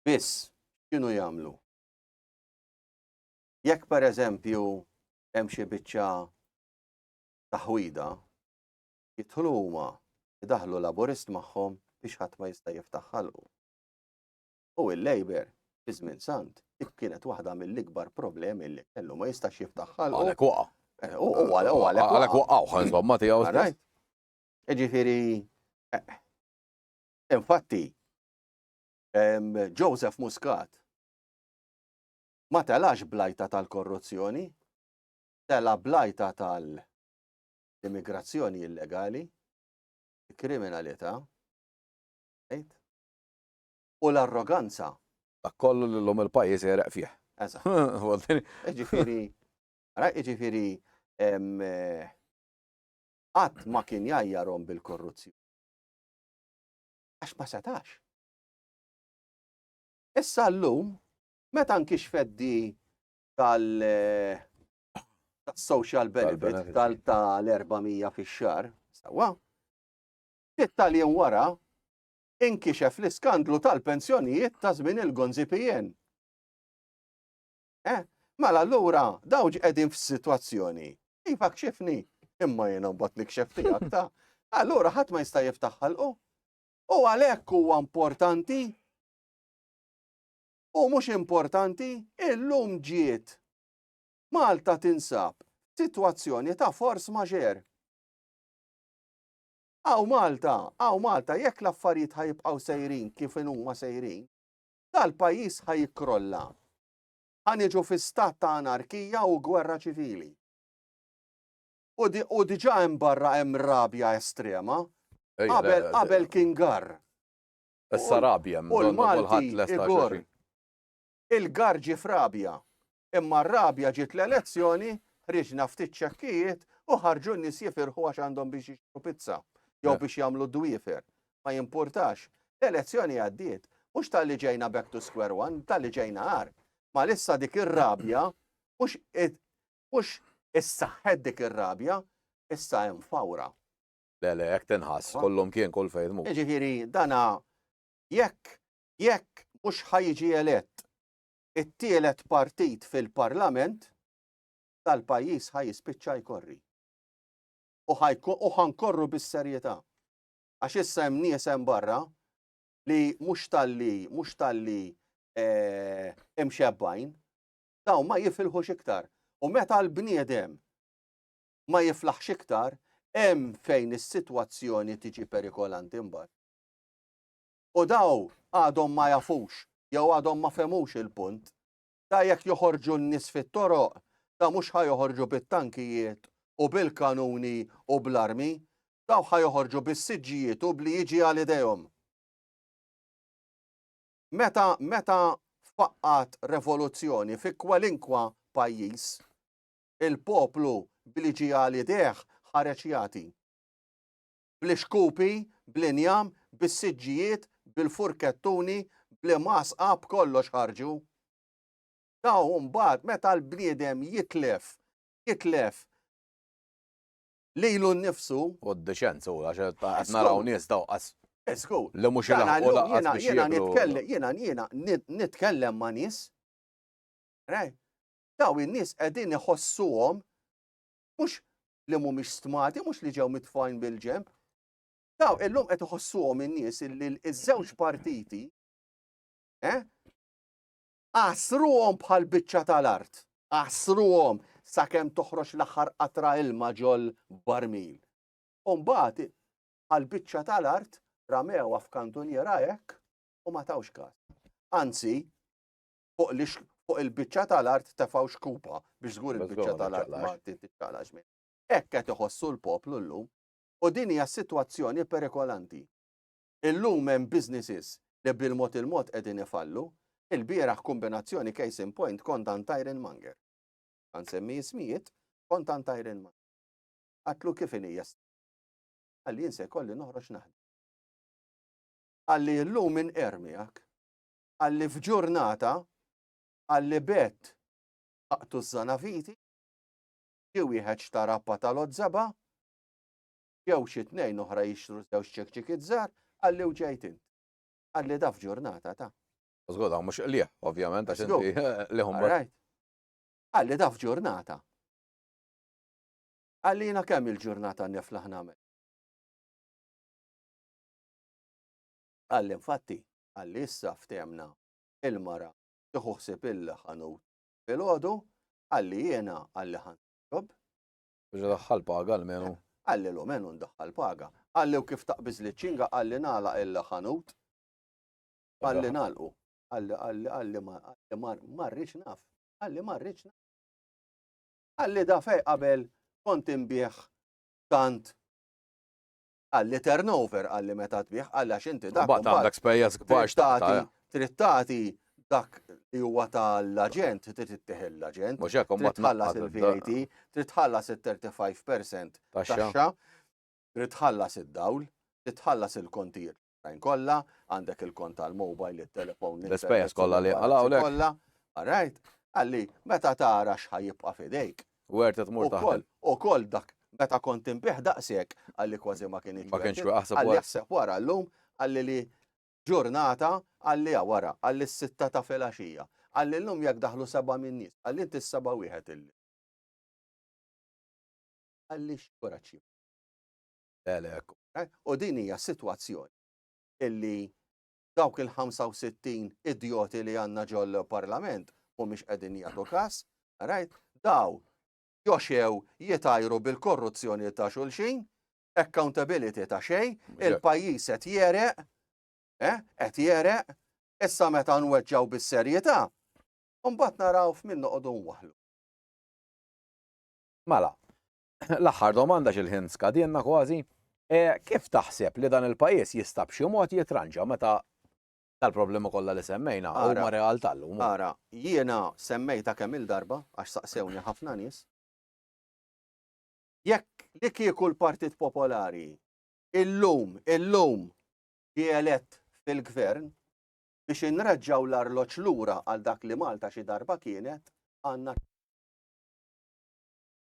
biss, kienu jagħmlu? Jekk per eżempju hemm xi biċċa taħwida, jidħlu huma, idaħħlu Laburist magħhom biex ħadd ma jista' jiftaħ ħalqu. U il-Labour, fi żmien sant, dik kienet waħda mill-ikbar problemi li kellu ma jistax jiftaħ ħalqu. Għalek waqa. Eh, u għalek waqa. Għalek waqa u ħanżbam ma tiegħu. Right. Ġifieri eh, infatti Joseph Muscat ma telax blajta tal-korruzzjoni telgħab bl-għajta tal-immigrazzjoni illegali, il-kriminalità, u l-arroganza. Dak kollu li l-lum il-pajjiż jereq fih. Eżatt. Iġifieri, ara iġifieri qatt ma kien jajjarhom bil-korruzzjoni. Għax ma setax. Issa llum, meta nkixfet di tal-social benefit tal-400 fix-xar, sewa, ftit tal-jiem wara inkixef l-iskandlu tal-pensjonijiet ta' żmien il-Gonzi PN. Eh, mela allura dawġ qegħdin f'sitwazzjoni. Iva kxifni, imma jiena mbagħad nikxef tiegħek ta' allura ħadd ma jista' jiftaħ ħalqu. U għalhekk huwa importanti U mhux importanti, illum ġiet. Malta tinsab f'sitwazzjoni ta' force majeure. Hawn Malta, hawn Malta jekk l-affarijiet ħa jibqgħu sejrin kif huma sejrin, dal-pajjiż ħa jikkrolla. Ħa niġu fi stat ta' anarkija u gwerra ċivili. U, di, u diġà hemm barra hemm rabja estrema. Qabel qabel kien garr. Issa Rabja hemm, u l-Malti jgorr il-garr ġie f'Rabja. Imma r-Rabja ġiet l-elezzjoni, ħriġna ftit ċekkijiet u ħarġu n-nies jifirħu għax għandhom biex jixtru pizza jew biex jagħmlu dwiefer. Ma jimpurtax. L-elezzjoni għaddiet. Mhux talli ġejna back to square one, talli ġejna għar. Ma lissa dik ir-rabja mhux mhux issaħħet dik ir-rabja, issa hemm fawra. Le, le, hekk tinħass, kollhom kien, kull fejn tmur. Jiġifieri dana jekk, jekk mhux ħa jiġi elett it-tielet partit fil-Parlament, dal-pajjiż ħa jispiċċa jkorri. U ħa u ħa nkorru bis-serjetà. Għax issa hemm nies hemm barra li mhux talli, mhux talli imxebbajn, dawn ma jifilħux iktar. U meta l-bniedem ma jiflaħx iktar, hemm fejn is-sitwazzjoni tiġi perikolanti mbagħad. U daw għadhom ma jafux jew għadhom ma femux il-punt ta' jekk joħorġu n-nies fit-toroq ta' mhux ħa joħorġu bit-tankijiet u bil-kanuni u bl-armi, daw ħa joħorġu bis-siġġijiet u bli jiġi għal idejhom. Meta meta faqqat revoluzzjoni fi kwalinkwa pajjiż, Il-poplu b'li ġie għal idejh ħareġ jagħti. Bl-ixkupi, bl-injam, bis-siġġijiet, bil-furkettuni, bl-imgħasqa, b'kollox ħarġu. Daw mbagħad meta l-bniedem jitlef, jitlef lilu nnifsu. U d-dixenza u għax qed naraw nies daw qas. Esku. Li mhux il-ħaqu laqas biex jitkellem. Jiena jiena nitkellem ma' nies. dawn in-nies qegħdin iħossuhom mhux li mhumiex stmati, mhux li ġew mitfajn bil-ġenb. Daw illum qed iħossuhom in-nies li ż-żewġ partiti eh, għasruhom bħal biċċa tal-art, għasruhom sakemm toħroġ l-aħħar qatra ilma ġol barmil. Umbagħad għal biċċa tal-art ramew f'kantuniera hekk u ma tawx każ. Anzi, fuq li fuq il-biċċa tal-art tefgħu xkupa biex żgur il-biċċa tal-art ma titixxalax minn. Hekk qed iħossu l-poplu llum u din hija sitwazzjoni perikolanti. Illum hemm businesses li bil-mod il-mod qegħdin ifallu, il-bieraħ kombinazzjoni case in point kont għand Iron Manger. Kan semmi ismijiet, kont għand Iron Manger. Għatlu kif inija għalli jinse kolli noħroġ naħdem. Għalli l-lum minn ermijak, qal li f'ġurnata qal li b'għedt laqtu ż-żanaviti, ġie wieħed xtara pata l-għożżebgħa, ġew xi tnejn oħra jixtru żewġ ċekċikiet żgħar, qal li u ġejt int. Qal li da f'ġurnata ta'. Żgur dawn mhux qligħ, ovvjament, għax inti qliħhom barajt. Qal li da f'ġurnata. Qal li jiena kemm il-ġurnata niflaħ nagħmel. Qal li infatti Għalli issa ftehmna il-mara tieħu ħsieb il-ħanut filgħodu, għalli jiena għalli ħa nsirob. Biex idaħħal paga almenu. Għalli l-omenu ndaħħal paga. Għalli u kif taqbiż li ċinga għalli nagħlaq il-ħanut. Għalli nagħlqu. Għalli għalli għalli marriċ naf. Għalli marriċ naf. Għalli da fej qabel kont imbieħ tant Qal li turnover, qal li meta tbigħ, qal li għax inti dak. Imbagħad għandek spejjeż kbar x'tagħti. Trid tagħti dak li huwa tal-aġent, trid ittieħ l-aġent. Mhux hekk imbagħad tħallas il-VAT, trid tħallas il-35% taxxa, trid tħallas id-dawl, trid tħallas il-kontijiet oħrajn kollha, għandek il-kont tal-mobile, it-telefon, l-ispejjeż kollha li għalawlek. Kollha, right? Għalli, meta tara x'ħajibqa' fidejk. U għert tmur taħdem. U koll dak, meta kont inbih daqshekk, għalli kważi ma kienx. Ma kienx aħseb wara. Aħseb wara llum, għalli li ġurnata għalli wara, għalli s-sitta ta' filgħaxija. Għalli llum jekk daħlu seba' minn nies, għalli inti s-seba' wieħed illi. Għalli x'kuraċċi. U din hija sitwazzjoni illi dawk il-65 idjoti li għandna ġol parlament mhumiex qegħdin jagħtu każ, rajt, daw joxew jitajru bil-korruzzjoni ta' xulxin, accountability ta' xej, il-pajjiż qed jereq, eh, qed jereq, issa meta nweġġaw bis-serjetà, mbagħad naraw f'min noqogħdu nwaħlu. Mela, L-aħħar domanda x'il-ħin skadienna kważi. E, kif taħseb li dan il-pajjiż jista' b'xi mod jitranġa meta tal-problemi kollha li semmejna huma realtà llum? Ara, jiena semmejta kemm il-darba għax saqsewni ħafna nies. Jekk li kieku l-Partit Popolari illum, illum ġie elett fil-gvern biex inreġġaw l-arloġ lura għal dak li Malta xi darba kienet għandna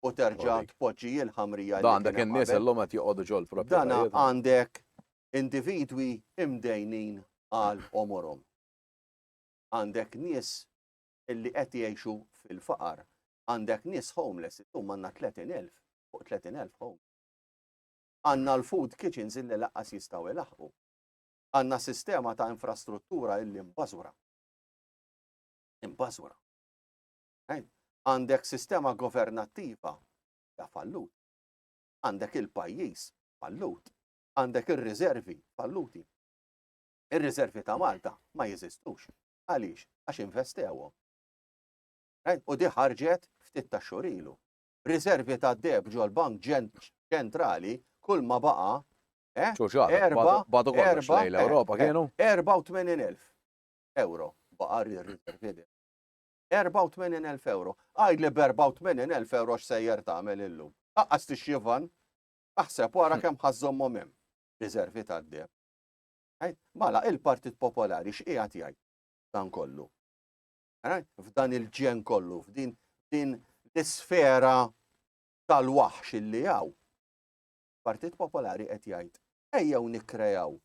u terġa' tpoġġi l-ħamrija li. Għandek in-nies illum qed joqogħdu ġol proprjetajiet. Dan għandek individwi imdejnin għal omorhom. Għandek nies illi qed jgħixu fil-faqar. Għandek nies homeless, illum għandna 30,000 fuq 30,000 homeless. Għandna l-food kitchens illi laqqas jistgħu ilaħqu. Għandna sistema ta' infrastruttura illi mbażura. Imbażura. Għandek sistema governattiva hija falluta. Għandek il-pajjiż fallut. Għandek ir-riżervi falluti. Ir-riżervi ta' Malta ma jeżistux. Għaliex? Għax investewhom. U di ħarġet ftit ta' xurilu. Riservi ta' deb ġol bank ċentrali kull ma baqa' eh, erba' badu kollox lejn l-Ewropa eh, kienu 84,000 euro baqa' riservi 84,000 ewro. Għidli b'84,000 ewro x'sejjer tagħmel illum? Qaqqas tixtri van? Aħseb wara hm. kemm ħażżommhom hemm. Riservi tad-deb. Mala il-Partit Popolari x'qiegħed jgħid dan kollu? F'dan il-ġen kollu, f'din din l-isfera tal-waħx illi hawn. Partit Popolari qed jgħid ejjew nikkrejaw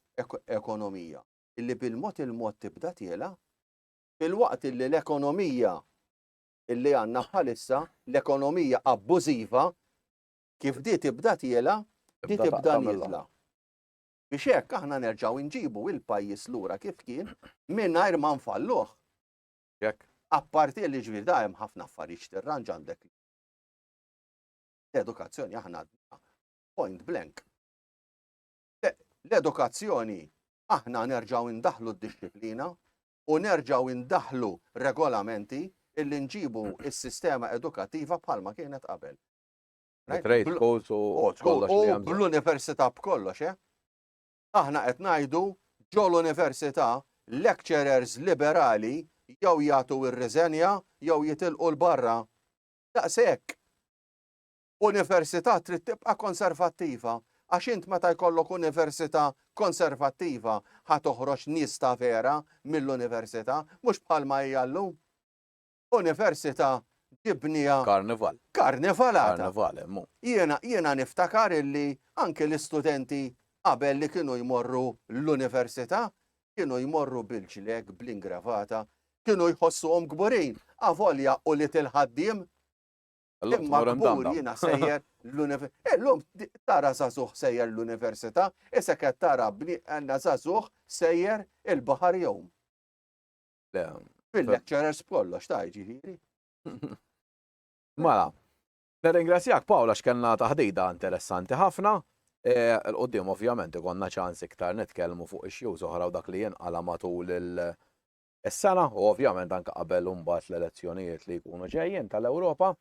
ekonomija illi bil-mod il-mod tibda tiela filwaqt illi l-ekonomija illi għandna bħalissa, l-ekonomija abbużiva, kif di tibda tiela, di tibda nizla. Biex hekk aħna nerġgħu nġibu il-pajjiż lura kif kien mingħajr ma nfalluh. Jekk. Apparti li ġbir da hemm ħafna affarijiet tirranġ għandek. L-edukazzjoni aħna point blank. L-edukazzjoni aħna nerġgħu ndaħlu d-disciplina, u nerġgħu indaħħlu regolamenti illi nġibu s-sistema edukattiva bħalma kienet qabel. Trade schools u kollox li hemm. Bl-università b'kollox, eh? Aħna qed ngħidu ġol università lecturers liberali jew jagħtu ir-riżenja jew jitilqu l-barra. Daqshekk. Università trid tibqa' konservattiva għax int meta jkollok università konservattiva ħa toħroġ nies ta' vera mill-università mhux bħalma hija llum. Università ġibnieha. Karnival. Karnival għadha. Karnival hemm hu. Jiena jiena niftakar illi anki l-istudenti qabel li kienu jmorru l-università kienu jmorru bil-ġleg, bl-ingravata, kienu jħossuhom kburin avolja u li til-ħaddiem Imma kbur jiena sejjer l-università. Eh, Illum tara zazuħ sejjer l-università, issa qed tara bni għandna zazuħ sejjer il-baħar jom. Fil-lecturers kollox ta' ġifieri. Mela, nirringrazzjak Pawla x'kellna taħdida interessanti ħafna. E, l-qoddim ovvjament ikonna ċans iktar nitkellmu fuq ix-xjuż oħra u dak li jinqala matul il- Is-sena u ovvjament anke qabel u mbagħad l-elezzjonijiet li jkunu ġejjin tal-Ewropa.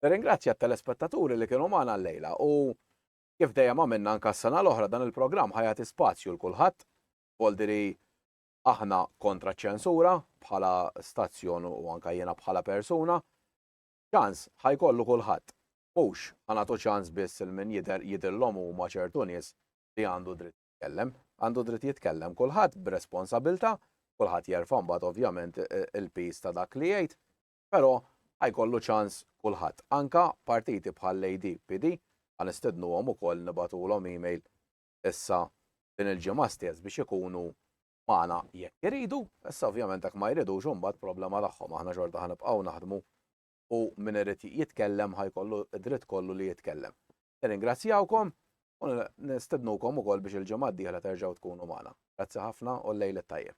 Nirringrazzja t-telespettaturi li kienu magħna llejla u kif dejjem għamilna anke s-sena l-oħra dan il-programm ħa jagħti spazju 'l kulħadd, voldiri aħna kontra ċ-ċensura bħala stazzjon u anke jiena bħala persuna. Ċans ħa jkollu kulħadd. Mhux ħa nagħtu ċans biss 'il min jidher jidhirlhom huma ċertu nies li għandu dritt. jitkellem. Għandu dritt jitkellem kulħadd b'responsabilta', kulħadd jerfa' mbagħad ovvjament il-piż ta' dak li jgħid, però ħa jkollu ċans kulħadd. Anke partiti bħall-ADPD ħa nistednuhom ukoll nibagħtulhom email issa din il-ġimgħa stess biex ikunu magħna jekk iridu, issa ovvjament jekk ma jridux imbagħad problema tagħhom, aħna xorta ħa nibqgħu naħdmu u min irid jitkellem ħajkollu dritt kollu li jitkellem. Nirringrazzjawkom u nistednukom ukoll biex il-ġimgħa d-dieħla terġgħu tkunu magħna. Grazzi ħafna u l-lejl tajjeb.